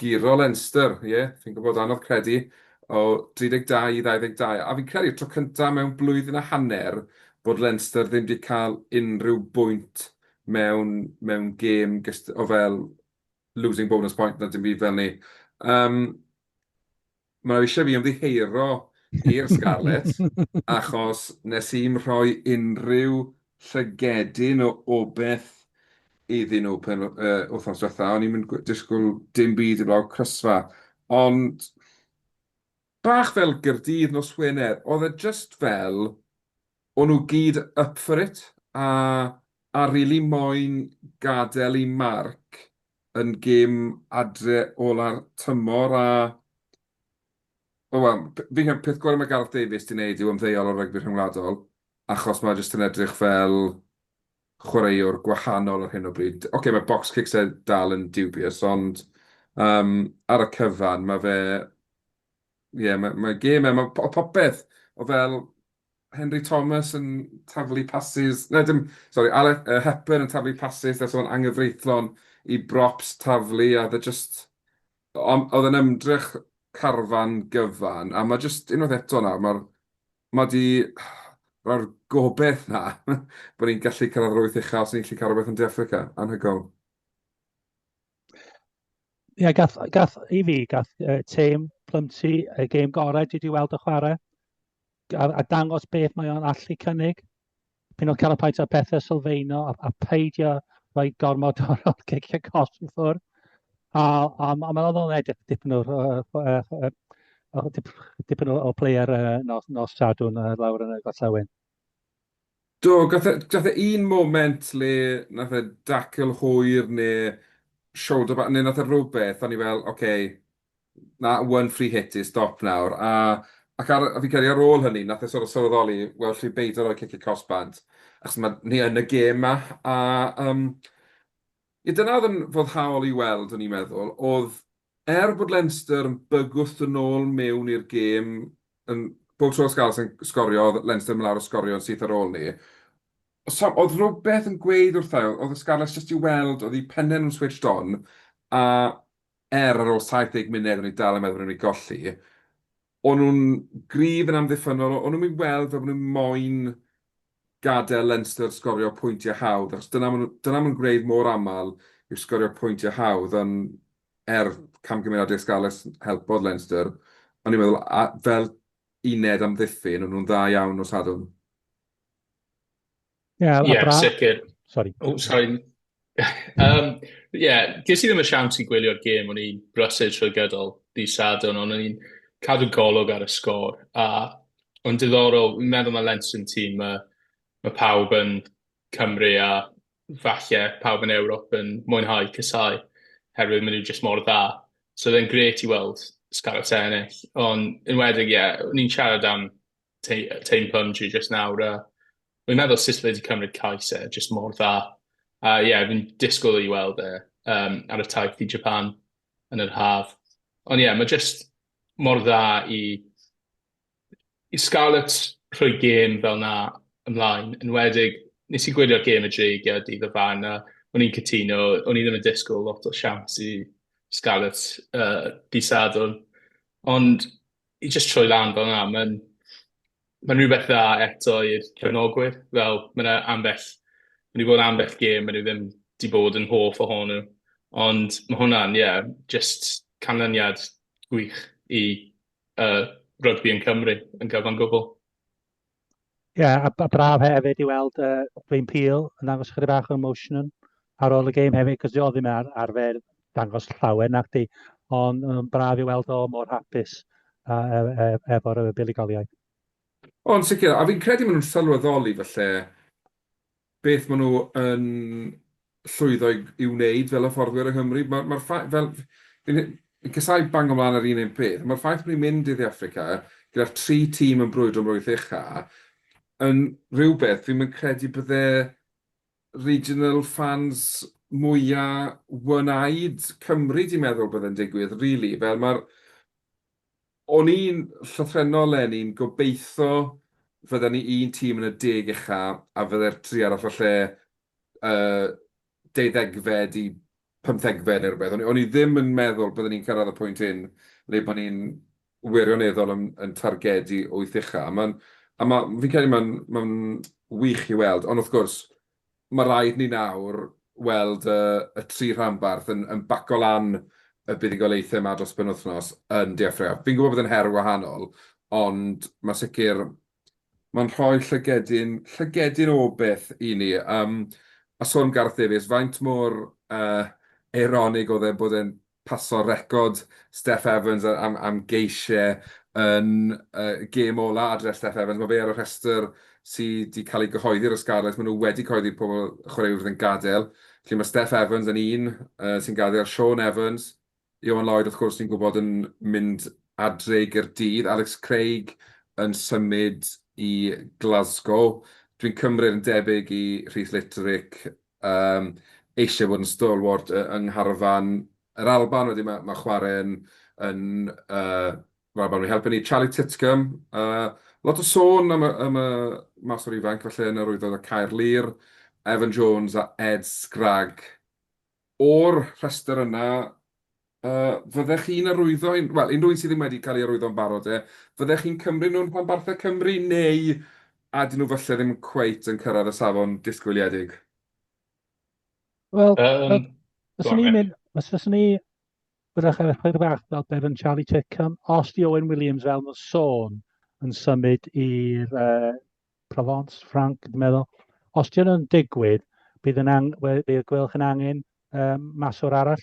Giro Leinster, ie, fi'n gwybod, anodd credu, o 32 i 22, a fi'n credu'r tro cyntaf mewn blwyddyn a hanner bod Leinster ddim wedi cael unrhyw bwynt mewn, mewn gêm o fel losing bonus point na dim byd fel ni. Um, Mae nhw eisiau fi ymddiheuro i'r Scarlet achos nes i'm rhoi unrhyw llygedyn o obeth iddyn nhw pen yy wythnos dwetha. O'n i'm yn gw- disgwyl dim byd heblaw crysfa. Ond bach fel Gaerdydd nos Wener, oedd e jyst fel o'n nhw gyd up for it a a rili moyn gadael eu marc yn gêm adre ola'r tymor a o wel, fi'n credu peth gorau mae Gareth Davies 'di wneud yw ymddeol o rygbi rhyngwladol achos mae jyst yn edrych fel chwaraewr gwahanol ar hyn o bryd. Ocê, mae box kicks e dal yn dubious ond yym ar y cyfan mae fe... ie, mae gêm e, mae popeth o fel Henry Thomas yn taflu pasys, na dim, sori, Aled uh, Hepburn yn taflu pasys, nes o'n angyfreithlon i brops taflu, a dda e just, oedd yn ymdrech carfan gyfan, a mae just unwaith eto nawr, mae ma di roi'r gobeith na, bod ni'n gallu cyrraedd yr wyth uchaf, os ni'n gallu cael rhywbeth yn De Africa, anhygoel. Ie, gath, gath, i fi, gath uh, tîm Plymti y gêm gorau dwi wedi weld y chwarae, a, a dangos beth mae o'n allu cynnig. Pyn o'n cael y paent o'r pethau sylfaeno, a, a peidio rhoi gormod o'r cicio cos i ffwrdd. A, a, a mae'n oddol edrych dipyn o'r uh, uh, dipyn o, o player uh, nos, nos sadwn uh, lawr yn y gorllewin. Do, gath e, gath e un moment le nath e dacl hwyr neu shoulder back, neu nath e rhywbeth, o'n i fel, oce, okay, na, one free hit is stop nawr. A, ac ar, a fi'n credu ar ôl hynny, nath e sort of sylweddoli, wel, lli beidio rhoi cic y cos bant, achos mae ni yn y gêm ma. A, um, ie, dyna oedd yn foddhaol i weld, o'n i'n meddwl, oedd Er bod Leinster yn bygwth yn ôl mewn i'r gêm, yn, bob tro oedd Scarlets yn sgorio oedd Leinster yn mynd lawr a sgorio yn syth ar ôl 'ny. Some, oedd rhywbeth yn gweud wrtha i, oedd y Scarlets jyst i weld, oedd eu penne nhw'n switched on, a er ar ôl 70 munud o'n i dal yn meddwl bod ni'n mynd i golli, O'n nhw'n gryf yn amddiffynnol, o'n nhw'n mynd weld fel bod nhw'n moyn gadael Leinster sgorio pwyntiau hawdd, achos dyna maen nhw, dyna maen nhw'n gwneud mor aml yw sgorio pwyntiau hawdd, ond er camgymeriad De Scarlets helpodd Leinster, o'n i'n meddwl fel uned amddiffyn, o'n nhw'n dda iawn nos Sadwrn. Yeah, yeah Brad... sicr. Sorry. Oh, sorry. um, yeah, ges i ddim y siawns i gwylio'r gêm, o'n i'n brysur trwy gydol di sadwn, ond o'n i'n cadw golwg ar y sgôr. A o'n diddorol, fi'n meddwl mae Lenson tîm, mae, mae pawb yn Cymru a falle pawb yn Ewrop yn mwynhau cysau, herwydd maen nhw jyst mor dda. So oedd e'n gret i weld Scarlets ennill, ond yn wedyn, ie, yeah, o'n i'n siarad am teim punch i jyst nawr, a fi'n meddwl sut fe 'di cymryd cais e, jyst mor dda. A ie, fi'n disgwyl i weld e um, ar y taith i Japan yn yr haf. Ond ie, mae jyst mor dda i, i Scarlett rhoi gêm fel na ymlaen, yn wedig, nes i gwylio'r gêm y dreigiau dydd y fan, a o'n i'n cytuno, o'n i ddim yn disgwyl lot o siawns i Scarlett uh, di sadwn. Ond i jyst troi lan fel yna, mae'n ma rhywbeth dda eto i'r cefnogwyr. Fel, mae yna ambell, mae wedi bod ambell gêm, mae nhw ddim wedi bod yn hoff ohonyn nhw. Ond mae hwnna'n, ie, yeah, just canlyniad gwych i uh, rygbi yn Cymru yn gyfan gwbl. Ie, yeah, a, a braf hefyd i weld uh, Dwayne Peel yn dangos chydig bach o emotion ar ôl y game hefyd, cos oedd ddim ar, arfer dangos llawer nac di, ond um, braf i weld o mor hapus uh, e, e, efo'r buddugoliaeth. Ond sicr, a fi'n credu maen nhw'n sylweddoli falle beth maen nhw yn llwyddo i wneud fel hyfforddwyr yng Nghymru. Mae'r ma ffaith, fel, fi'n casau bang ymlaen ar un un peth, mae'r ffaith bod ni'n mynd i Dde Affrica gyda'r tri tîm yn brwydro am rwyth ucha, yn rhywbeth fi'n mynd credu bydde regional fans mwyaf wynaid Cymru di meddwl bydde'n digwydd, really. Fel mae'r O'n i'n llythrennol len i'n gobeitho fydden ni un tîm yn y deg ucha a fydde'r tri arall o lle y deuddegfed i pymthegfed neu rywbeth. O'n i ddim yn meddwl bydden ni'n cyrraedd y pwynt hyn le bod ni'n wirioneddol yn targedu wyth ucha. Fi'n credu mae'n wych i weld, ond wrth gwrs, mae rhaid ni nawr weld y tri rhanbarth yn baco lan y buddugoliaethau yma dros y penwythnos yn De Affrica. Fi'n gwybod bod e'n her wahanol, ond mae'n sicr, mae'n rhoi llygedyn, llygedyn o beth i ni. A sôn am Gareth Davies, faint mor eironig oedd e bod e'n paso record Steff Evans am geisiau yn y gêm ola adre Steff Evans. Mae fe ar y rhestr sy 'di cael ei gyhoeddi ar y Scarlets. Maen nhw wedi cyhoeddi pobl y chwaraewyr fydd yn gadael. Felly mae Steff Evans yn un sy'n gadael, Shaun Evans, Ioan Lloyd wrth gwrs ni'n gwybod yn mynd adre i Gaerdydd, Alex Craig yn symud i Glasgow. Dwi'n cymryd yn debyg i Rhys Litterick Yym, eisiau bod yn stalwart yy yng ngharfan yr Alban. Wedyn ma' ma' chwarae yn yn yy yr Alban wedi helpu ni. Charlie Titcomb, yy lot o sôn am y am y maswr ifanc falle yn yr Wyddor a Caerlŷr, Evan Jones a Ed Scragg. O'r rhestr yna, Yy, fyddech chi'n arwyddo un-, wel, unrhyw un sydd ddim wedi cael ei arwyddo'n barod de, fyddech chi'n cymryd nhw'n rhanbarthau Cymru neu a 'dyn nhw falle ddim cweit yn cyrraedd y safon disgwyliedig? Wel, Yym, go fyswn on i'n Mick. mynd, os fyswn i, fyddech chi'n rhoi bach fel beth yn Charlie Chickham, os di Owen Williams fel nhw'n sôn yn symud i'r uh, Provence, Frank, dwi'n meddwl, os di hwnnw'n digwydd, bydd yn ang, we- bydd gwelwch yn angen um, maswr arall.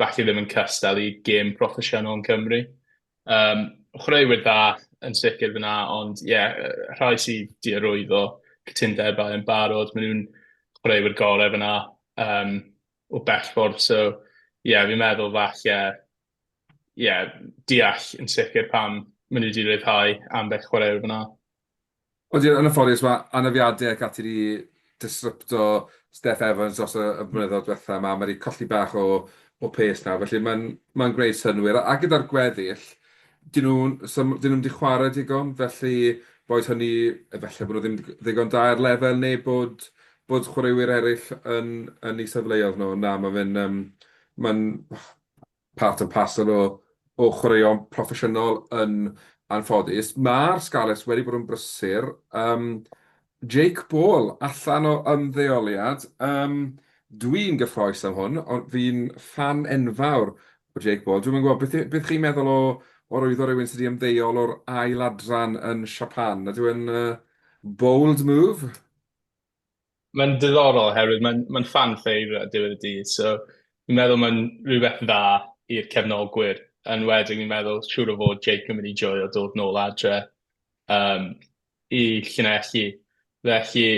falle ddim yn cystal i gêm proffesiynol yn Cymru. Um, chwaraewyr dda yn sicr fyna, ond ie, yeah, rhai sydd di arwyddo cytundebau yn barod, maen nhw'n chwaraewyr gorau fyna um, o bellffordd, so ie, yeah, fi'n meddwl falle, ie, yeah, deall yn sicr pam maen nhw wedi rhyddhau ambell chwaraewyr fyna. Odi, yn anffodus, mae anafiadau ac ati 'di disrupto Steph Evans dros y blynyddoedd diwetha' 'ma. Mae 'di colli bach o o pace nawr, felly mae'n mae'n gwneud synnwyr. A gyda'r gweddill, 'dyn nhw so 'dyn nhw'm 'di chwarae digon, felly boed hynny efallai bod nhw ddim ddigon da ar lefel neu bod bod chwaraewyr eraill yn yn eu safleoedd nhw. Na, mae fe'n yym mae'n part and parcel o o chwaraeon proffesiynol yn anffodus. Ma'r Scarlets wedi bod yn brysur. Yym Jake Ball allan o ymddeoliad. Yym dwi'n gyffrous am hwn, ond fi'n ffan enfawr o Jake Ball. Dwi'm yn gwybod beth beth chi'n meddwl o o rwyddo rhywun sydd wedi ymddeol o'r ail adran yn Siapan. Ydyw e'n uh, bold move? Mae'n ddiddorol oherwydd mae'n mae'n fan favourite ar diwedd y dydd, so fi'n meddwl mae'n rhywbeth dda i'r cefnogwyr, yn enwedig fi'n meddwl siŵr o fod Jake yn mynd i joio dod nôl adre yym i Llanelli. Felly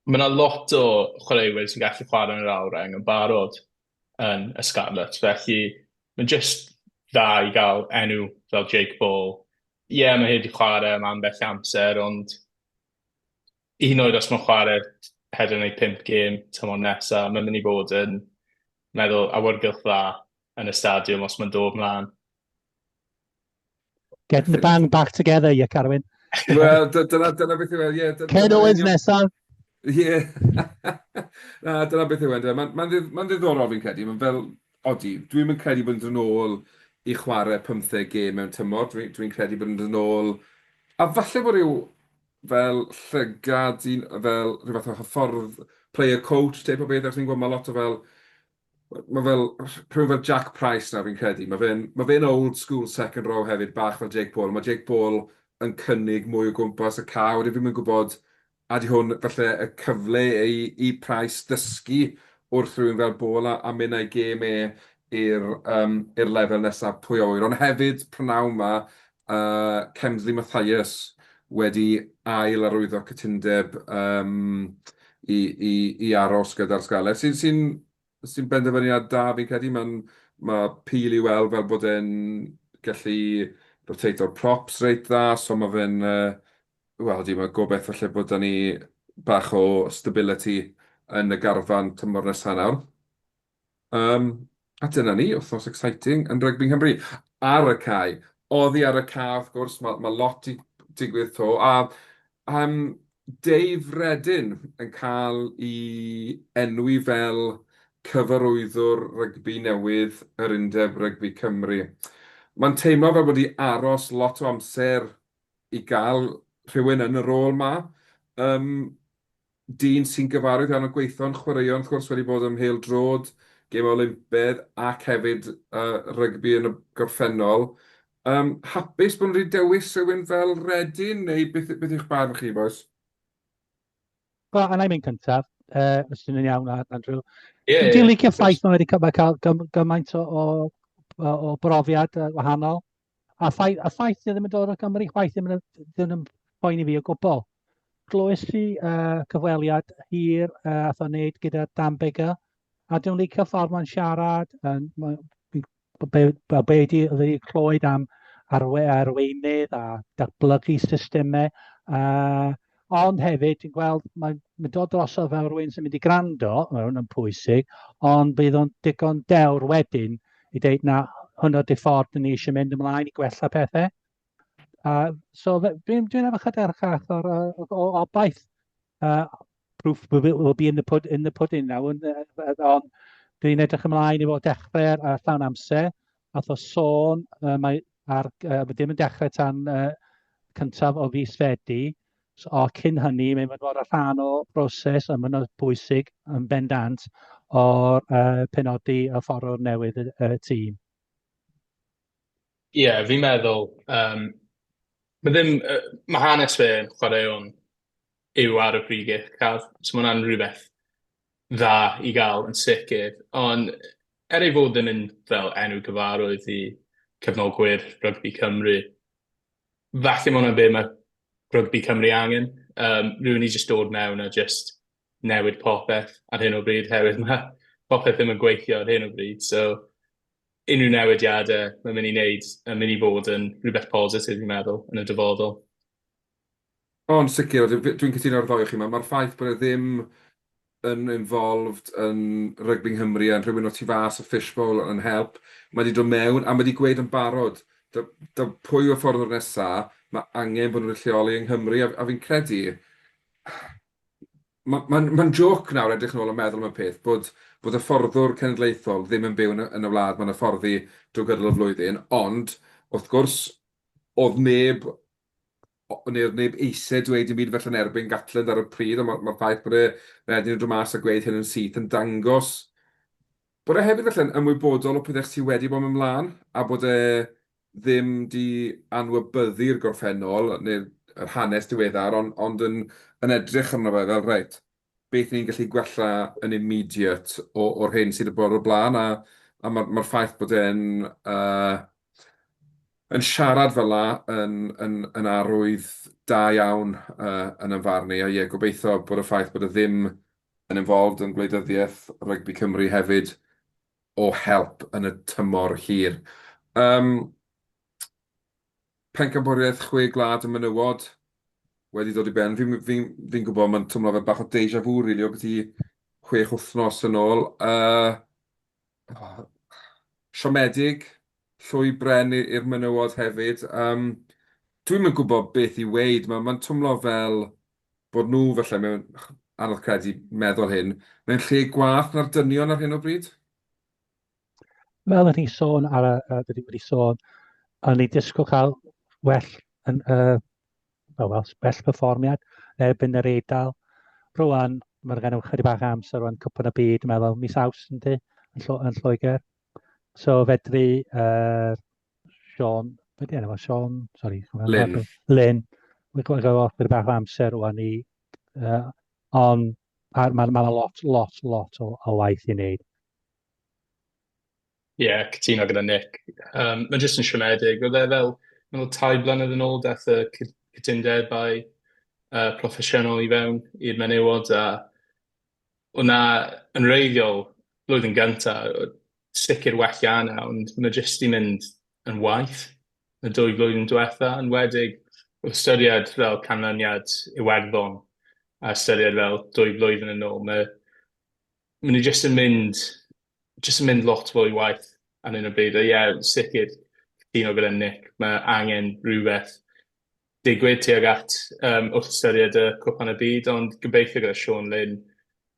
ma' 'na lot o chwaraewyr sy'n gallu chware yn yr awyr-reng yn barod yn y Scarlets, felly mae'n jyst dda i gael enw fel Jake Ball. Ie, mae e 'di chware am ambell amser ond hyd yn oed os maen nhw'n chwarae pedwar neu pump gêm tymor nesa, mae'n mynd i fod yn meddwl awyrgylch dda yn y stadiwm os mae'n dod mlaen. Getting the band back together, ie, Carwyn. Wel, dyna, dyna beth yw e, ie. Ken Owens nesaf. Ie. Na, dyna beth yw e, Mae'n ma, ma ddiddorol fi'n credu. Mae'n fel, Odi, dwi ddim yn credu bod yn dod nôl i chwarae pymtheg gêm mewn tymor, dwi, dwi'n credu bod yn dod nôl, a falle bod rhyw fel llygad, un, fel rhyw fath o hyffordd player coach, teip o beth, achos ni'n gwybod mae lot o fel, mae fel, rhyw fel Jack Price nawr fi'n credu, mae fe'n ma fe old school second row hefyd, bach fel Jake Paul, mae Jake Paul yn cynnig mwy o gwmpas y cae, wedyn fi'n mynd gwybod Ydy hwn falle y cyfle i Price ddysgu wrth rywun fel Ball a mynd a'i gêm e i'r lefel nesaf, pwy a ŵyr. Ond hefyd, p'nawn 'ma, Kemsley Mathias wedi ail arwyddo cytundeb i aros gyda'r Scarlets, sy'n Sy'n benderfyniad da fi'n credu, mae'n... mae Peel i weld fel bod e'n gallu rotato'r props reit dda, so mae fe'n yy wel ydy mae gobeith falle bod 'da ni bach o stability yn y garfan tymor nesa nawr. Yym a dyna ni, wythnos exciting yn rygbi Nghymru. Ar y cae! Oddi ar y cae wrth gwrs, ma' ma' lot 'di digwydd 'to a yym Dave Reddin yn cael i enwi fel cyfarwyddwr rygbi newydd yr Undeb Rygbi Cymru. Mae'n teimlo fel bod wedi aros lot o amser i gael rhywun yn y rôl 'ma. Yym, dyn sy'n gyfarwydd iawn â gweithio'n chwaraeon wrth gwrs, wedi bod ym mhêl-droed, gêmau Olympedd ac hefyd yy rygbi yn y gorffennol. Yym, hapus bod nhw wedi dewis rhywun fel Reading, neu beth, beth yw'ch barn chi, bois? Wel, a na i mynd cyntaf, uh, os ti'n yn iawn, Andrew. Ie, yeah, Dwi'n licio ffaith mae wedi cael gymaint o, o, o brofiad wahanol. A ffaith, a ffaith dwi ddim yn dod o Gymru, chwaith ddim yn, ddim yn boen i fi o gwbl. Glywes i uh, cyfweliad hir uh, a thon wneud gyda Dan Bigger, a dwi'n licio ffordd mae'n siarad, yn, be, be, be ydy, ydy clywed am arwe, arweinydd a datblygu systemau. Uh, ond hefyd, ti'n gweld, mae'n ma dod drosodd fel rhywun sy'n mynd i grando, mae hwn yn pwysig, ond bydd o'n digon dewr wedyn i ddeud na hwnnw di ffordd ni eisiau mynd ymlaen i gwella pethau. Uh, so dwi'n dwi efo chyda'r chach o'r, o'r, o'r obaith uh, proof will be in the, pud in the pudding now, ond on, dwi'n edrych ymlaen i fod dechrau ar, ar llawn amser, fath o sôn, uh, mae ar, uh, ddim yn dechrau tan uh, cyntaf o fus fedi, so, o cyn hynny, mae'n mynd fod y rhan o broses yn mynd o bwysig yn bendant o'r uh, penodi a fforwr newydd y, y tîm. Ie, yeah, fi'n meddwl, um, mae ddim, uh, mae hanes fe yn chwaraeon yw ar y pryd uchaf. So mae hwnna'n rhywbeth dda i gael yn sicr. Ond er ei fod yn mynd fel enw gyfarwydd i cefnogwyr rygbi Cymru, falle mae hwnna'n be mae rygbi Cymru angen. Um, rwy'n ni jyst dod mewn a jyst newid popeth ar hyn o bryd, herwydd mae popeth ddim yn gweithio ar hyn o bryd. So, unrhyw newidiadau mae'n mynd i wneud yn mynd i fod yn rhywbeth positif, fi'n meddwl, yn y dyfodol. O, yn sicr, a dwi dwi'n cytuno ar y ddou o chi. Ma' ma'r ffaith bod e ddim yn involved yn rygbi Nghymru a rhywun o tu fas y fishbowl yn help. Mae wedi dod mewn a mae wedi gweud yn barod, da- da- pwy yw'r fforddwr nesa, mae angen bod nhw wedi lleoli yng Nghymru a a fi'n credu ma' ma'n ma'n jôc nawr edrych yn ôl a meddwl am y peth bod bod y fforddwr cenedlaethol ddim yn byw yn y yn y wlad ma'n hyfforddi drwy gydol y flwyddyn ond wrth gwrs o'dd neb neu'r neb eisiau dweud dim byd felly yn erbyn Gatland ar y pryd, ond mae'r ffaith bod e wedyn yn dod mas a gweud hyn yn syth yn dangos bod e hefyd felly'n ymwybodol o pethau sydd wedi bod yn mynd mlaen a bod e ddim di anwybyddu'r gorffennol neu'r hanes diweddar ond, ond yn, yn edrych arno fe fel reit, beth ni'n gallu gwella yn immediate o, o'r hyn sydd wedi bod o'r blaen, a, a mae'r ma ffaith bod e'n uh, yn siarad fel la yn, yn, yn arwydd da iawn uh, yn ymfarn i, a ie, gobeithio bod y ffaith bod y e ddim yn involved yn gwleidyddiaeth rygbi Cymru hefyd o help yn y tymor hir. Um, Pencampwriaeth chwe gwlad y menywod wedi dod i ben. Fi'n fi, fi gwybod mae'n twmlo fel bach o deja vu, rili, really, o beth i chwech wythnos yn ôl. Uh, oh, siomedig, llwy bren i'r menywod hefyd. Um, Dwi'n mynd gwybod beth i weid. Mae'n ma twmlo fel bod nhw, felly, mewn anodd credu meddwl hyn, mewn lle gwath na'r dynion ar hyn o bryd. fel o'n i'n sôn ar y, uh, dydyn wedi sôn, o'n i'n disgwyl cael well, yn, uh, well, well, well performiad erbyn yr eidl. Rwan, mae'n gen i chydig bach amser rwan cwpan y byd, mae'n fel mis aws yn di, yn, llo, yn Lloegr. So fedri uh, Sean, beth enw, Sean, sorry. Lynn. Lynn. Mae'n gweld gael offer bach o amser o'n i, uh, ond mae'n ma, ma lot, lot, lot o, o waith i wneud. Ie, cytuno gyda Nick. Um, mae jyst yn siomedig. Oedd e fel, mae'n ôl tai blynedd yn ôl, dath y cytundebau uh, proffesiynol i fewn i'r menywod, a o'na yn reiddiol flwyddyn gynta, sicr well yna, ond mae jyst i mynd yn waith y dwy flwyddyn diwetha, yn wedig o ystyried fel canlyniad Iwerddon, a ystyried fel dwy flwyddyn yn ôl. Mae maen nhw jyst yn mynd, jyst yn mynd lot fwy waith ar hyn o bryd. A ie, sicr, cytuno gyda Nick, mae angen rhywbeth digwydd tuag at um, wrth ystyried y cwpan y byd, ond gobeithio gyda Sean Lynn,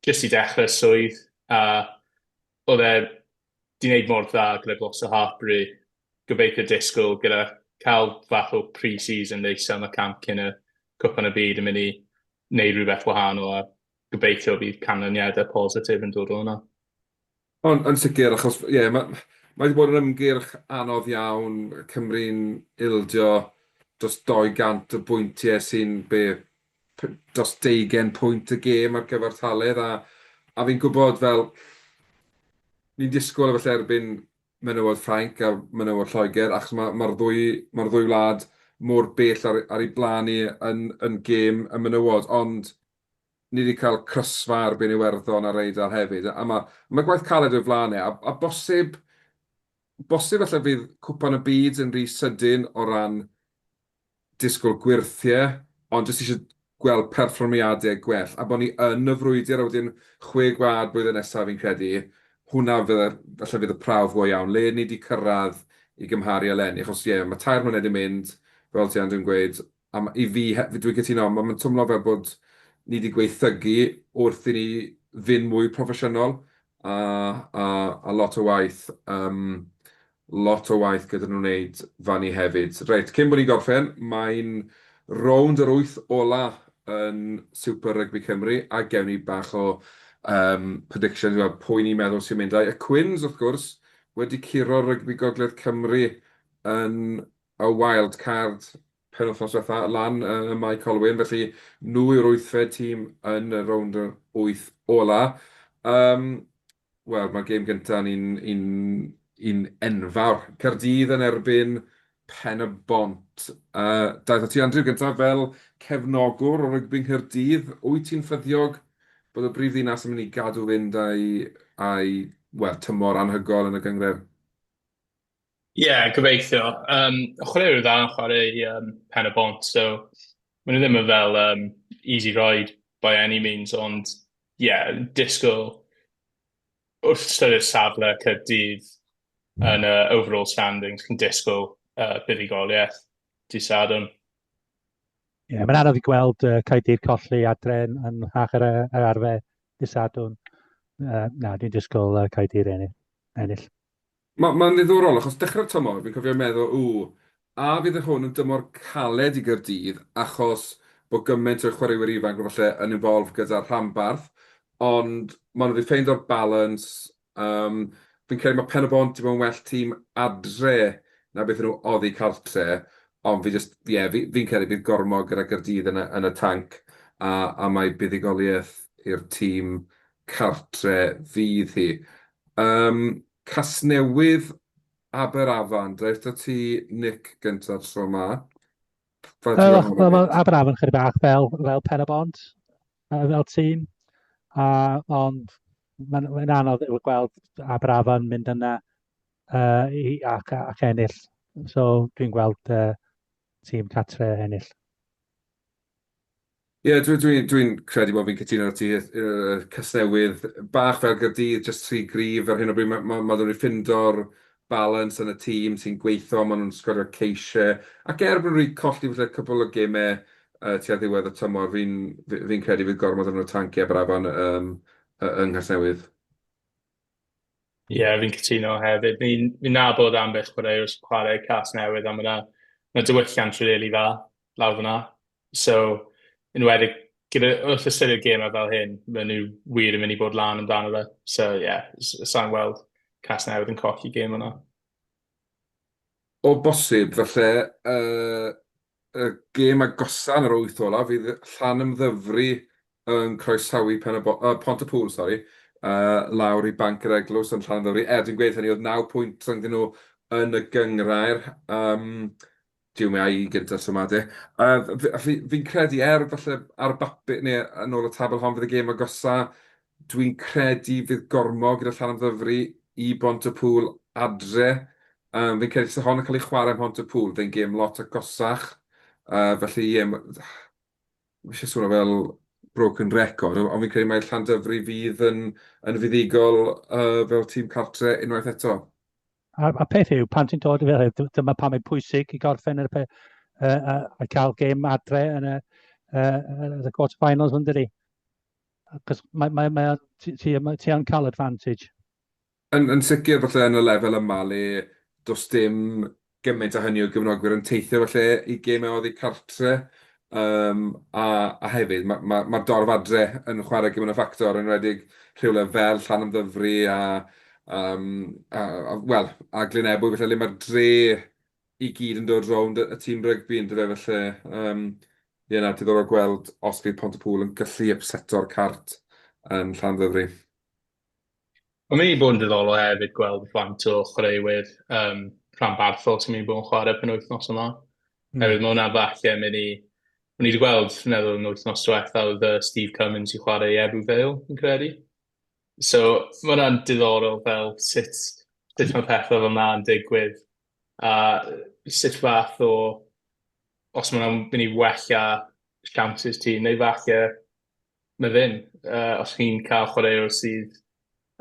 jyst i dechrau swydd, a oedd e di wneud mor dda gyda glos o Harbury, gobeithio disgwyl gyda cael fath o pre-season neis am y camp cyn y cwpan y byd yn mynd i wneud rhywbeth wahanol a gobeithio bydd canlyniadau positif yn dod o hwnna. Ond yn sicr, achos ie, yeah, mae ma wedi bod yn ymgyrch anodd iawn, Cymru'n ildio dros 200 o bwyntiau sy'n be, dros 20 pwynt y gêm ar gyfartaledd, a, a fi'n gwybod fel, ni'n disgwyl efallai erbyn menywod Ffrainc a menywod Lloegr, achos mae'r ma, ma ddwy, ma ddwy wlad mor bell ar, ar ei blaen ni yn, yn gêm y menywod, ond ni 'di cael crysfa ar bin Iwerddon ar Eidal hefyd, a ma', ma' gwaith caled o'i flan e, a, a bosib, bosib falle fydd Cwpan y Byd yn rhy sydyn o ran disgwyl gwyrthie, ond jyst eisiau gweld perfformiadau gwell, a bod ni yn y frwydr, a wedyn Chwe Gwlad blwyddyn nesaf fi'n credu, hwnna fydde, falle fydd y prawf go iawn, le ni 'di cyrraedd i gymharu eleni, achos ie, ma' tair mlynedd 'di mynd, fel ti Andrew yn gweud, A ma- i fi he- f- dwi'n cytuno, ma' ma'n twmlo fel bod ni 'di gwaethygu wrth i ni fyn' mwy proffesiynol, a a a lot o waith yym lot o waith gyda nw neud fan 'ny hefyd. Reit, cyn bo' ni'n gorffen, mae'n rownd yr wyth ola yn Super Rugby Cymru, a gewn ni bach o yym predictions fel pwy ni'n meddwl sy'n mynd. A'i y Quins, wrth gwrs, wedi curo'r Rygbi Gogledd Cymru yn y wildcard penwythnos diwetha lan ym Mae Colwyn, felly nhw yw'r wythfed tîm yn y rownd yr wyth ola. Yym, wel, mae'r gêm gynta yn un un un enfawr. Caerdydd yn erbyn Pen-y-bont. Yy, daeth at ti Andrew gynta fel cefnogwr o rygbi Nghaerdydd, wyt ti'n ffyddiog bod y brif ddinas yn mynd i gadw fynd a'i a'i wel, tymor anhygoel yn y gynghrair? Ie, gobeithio. Yym, chwaraewyr dda yn chwarae i yym, Pen y Bont, so maen nhw ddim yn fel um, easy ride by any means, ond ie, yeah, disgwyl wrth ystyried safle Caerdydd mm. yn y uh, overall standings, cyn disgwyl uh, buddugoliaeth di Sadwn. Ie, yeah, mae'n anodd i gweld uh, Caerdydd colli adren yn hach ar, ar arfe di Sadwn. Uh, na, dwi'n disgwyl uh, Caerdydd ennill. Mae, mae'n ddiddorol, achos dechrau'r tymor, fi'n cofio meddwl, ww, a fydd hwn yn dymor caled i Gaerdydd, achos bod gymaint o chwaraewyr ifanc falle yn involved gyda'r rhanbarth, ond maen nhw wedi ffeindio'r balance, um, fi'n credu mae Pen-y-bont i fod yn well tîm adre na beth nhw oddi cartre, ond fi jyst, ie, yeah, fi, fi'n credu bydd gormod gyda Gaerdydd yn y, yn y tanc, a, a mae buddugoliaeth i'r tîm cartre fydd hi. Yym Casnewydd Aberafan reit o ti Nick gynta tro ma. Aberafan chydig bach fel fel pen y bont fel tîm a ond mae'n mae'n anodd i'w gweld Aberafan mynd yna uh, i, ac, ac ennill. So dwi'n gweld uh, tîm catre ennill. Ie, dwi, dwi, dwi'n credu bod fi'n cytuno ar ti, uh, Casnewydd, bach fel Gyrdydd, just tri grif ar hyn o bryd, mae ma, ma nhw'n ffindo'r balans yn y tîm sy'n gweithio, maen nhw'n sgorio ceisiau, ac er bod nhw wedi colli falle cwbl o gemau uh, tua ddiwedd y tymor, fi'n fi, fi credu fydd gormod o'n tanciau brafan um, yng Nghasnewydd. Ie, yeah, fi'n cytuno hefyd. Fi'n fi nabod ambell chwaraewr sy'n chwarae Cas Newydd a mae yna ma diwylliant rili really dda. lawr fan'na. So, yn enwedig gyda... wrth ystyried gemau fel hyn, maen nhw wir yn mynd i fod lan amdano fe. So, ie, s- sa i'n gweld Casnewydd yn colli gêm yna. O bosib, falle y gêm agosa yn yr wyth olaf fydd Llanymddyfri yn croesawu Pontypŵl, sori, lawr i Banc yr Eglwys yn Llanymddyfri. Er, dwi'n gweud hynny, oedd naw pwynt rhyngddyn nhw yn y gynghrair. Jiw mae i gyntaf so ma de. Fi'n credu er falle ar y bapur neu yn ôl y tabl hon fydd y gêm agosa. Dwi'n credu fydd Gormo gyda Llanymddyfri i Bontypŵl adre. Fi'n credu se hon yn cael ei chwarae ym Mhontypŵl fe'n gêm lot agosach. Felly ie ma- fi isie swnio fel broken record ond fi'n credu mai Llandyfri fydd yn fuddugol fel tîm cartre unwaith eto. A'r, a'r peth yw, pan ti'n dod i fel hyn, dyma pam mae'n pwysig i gorffen yr, uh, uh, a cael gêm adre yn y, uh, yn y quarter finals yn dydi. Cos mae, mae, mae, ti, ti, mae, ti yn cael advantage. Yn, yn sicr falle yn y lefel yma le does dim gymaint a hynny o gyfnogwyr yn teithio falle i gemau oddi cartre. Yym, a, a hefyd, mae'r ma, ma dorf adre yn chwarae gymryd y ffactor, yn rhedeg rhywle fel Llan Ymddyfri a, um, a, a, well, a Glyn Ebwy, felly le mae'r dre i gyd yn dod rownd y, y tîm rygbi yn dyfe, felly, um, ie, na, diddorol gweld os bydd Pont y Pŵl yn gallu ypseto'r cart yn Llan Ymddyfri. Mae'n mynd i bod yn ddiddorol hefyd gweld faint o chwaraewyr um, rhan barthol sy'n mynd i bod yn chwarae pen wythnos yma. Mm. Hefyd mae hwnna falle mynd i... O'n i wedi gweld, fi'n meddwl, yn wythnos diwetha oedd uh, Steve Cummins i chwarae i Ebu Vale, yn credu. So, mae hwnna'n diddorol fel sut, sut mae pethau fel yna'n digwydd. A sut fath o... Os mae'n mynd i wella chances ti, neu falle na ddim. Uh, os chi'n cael chwaraewr sydd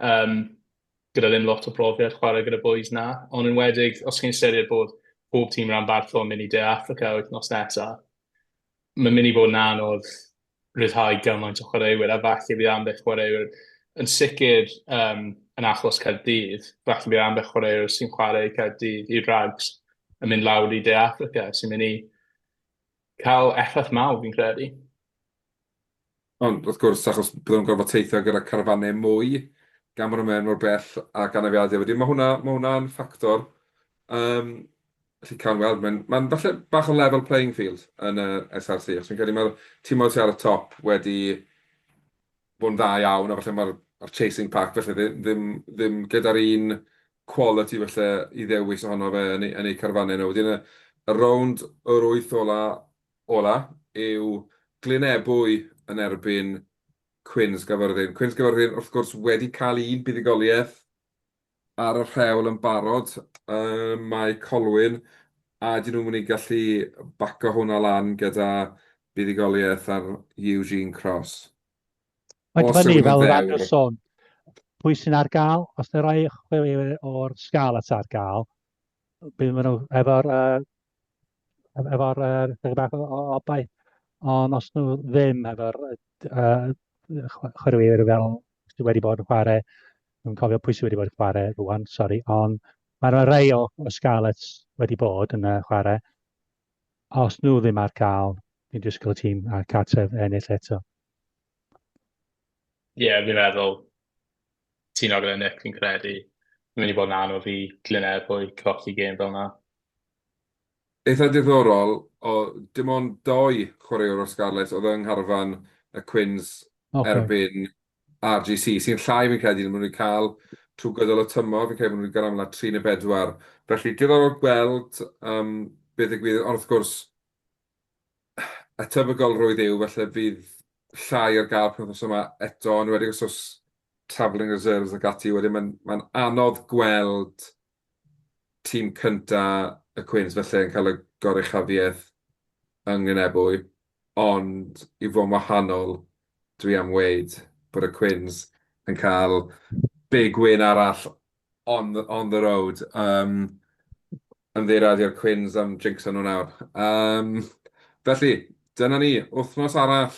um, gyda ddim lot o brofiad chwarae gyda boys na, ond yn wedig os chi'n ystyried bod pob tîm rhan bartho yn mynd i De Africa wythnos nesaf, mae'n mynd i fod yn anodd rhyddhau gymaint o chwaraewyr, a falle bydd ambell chwaraewyr yn sicr um, yn achos Caerdydd, falle bydd ambell chwaraewyr sy'n chwarae Caerdydd i rags yn mynd lawr i De Africa, sy'n mynd i cael effaith mawr fi'n credu. Ond, wrth gwrs, achos bydden nhw'n gorfod teithio gyda carafannau mwy, gan bod nhw'n mynd mor bell ac anafiadau wedyn, mae hwnna, mae hwnna'n ffactor. Yym, felly cawn weld. Mae'n, mae'n falle bach o level playing field yn y SRC, achos fi'n credu mae'r tîmau sy ar y top wedi bod yn dda iawn, a falle mae'r, mae'r chasing pack falle ddi- ddim, ddim gyda'r un quality falle i ddewis ohono fe yn eu, yn eu carafannau nhw. Wedyn y, y rownd yr wyth ola, ola yw Glynebwy yn erbyn Cwins Gafyrddin. Cwins Gafyrddin wrth gwrs wedi cael un buddugoliaeth ar y rhewl yn barod ym Mae Colwyn a ydyn nhw'n mynd i gallu baco hwnna lan gyda buddugoliaeth ar Eugene Cross? Mae'n dibynnu fel yr arfer sôn pwy sy'n ar gael, os na rai chwilio o'r sgal at ar gael, bydd maen nhw efo'r uh, efo'r uh, chydig bach o obaith, ond os nhw ddim efo'r uh, chwaraewyr fel sydd wedi bod yn chwarae, dwi'n cofio pwy sydd wedi bod yn chwarae rwan, sori, ond mae yna rei o, o Scarlets wedi bod yn uh, chwarae. Os nhw ddim ar gael, dwi'n disgwyl y tîm a cartref ennill eto. Ie, yeah, fi'n meddwl ti'n ogl yn Nick, fi'n credu. Fi'n mynd i bod yn anodd i Glyn Erbwy colli gêm fel yna. Eitha diddorol, oedd dim ond dou chwaraewr o'r Scarlets oedd yng ngharfan y Quins erbyn RGC, sy'n llai fi'n credu na maen nhw wedi cael trwy gydol y tymor, fi'n credu bod nhw wedi cael amlaf tri neu bedwar. Felly diddorol gweld be ddigwydd, ond wrth gwrs, y tebygolrwydd yw falle fydd llai ar gael penwythnos yma eto, yn enwedig os oes travelling reserves ac ati, wedyn mae'n anodd gweld tîm cyntaf y Cwins falle yn cael y goruchafiaeth yng Nglynebwy, ond i fod yn wahanol, dwi am weud bod y Cwins yn cael big win arall on the on the road. Yym, ymddiheuriadu i'r Cwins am jinxo nhw nawr. Yym, felly, dyna ni, wythnos arall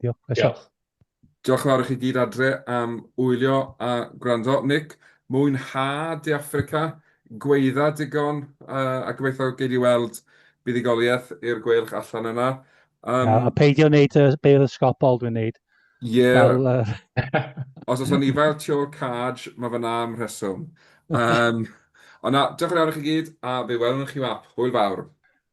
Diolch. Diolch. Diolch yn fawr i chi gyd adre am wylio a gwrando. Nick, mwynha De Affrica, gweidda digon, a gobeithio gei di weld buddugoliaeth i'r gweilch allan yna. Um, a peidio wneud y beil ysgopol dwi'n wneud. Ie. Yeah. Os oes o'n ifael tu ôl caj, mae fy na am rheswm. Um, ond na, diolch yn fawr i chi gyd, a fe welwn chi wap. Hwyl fawr.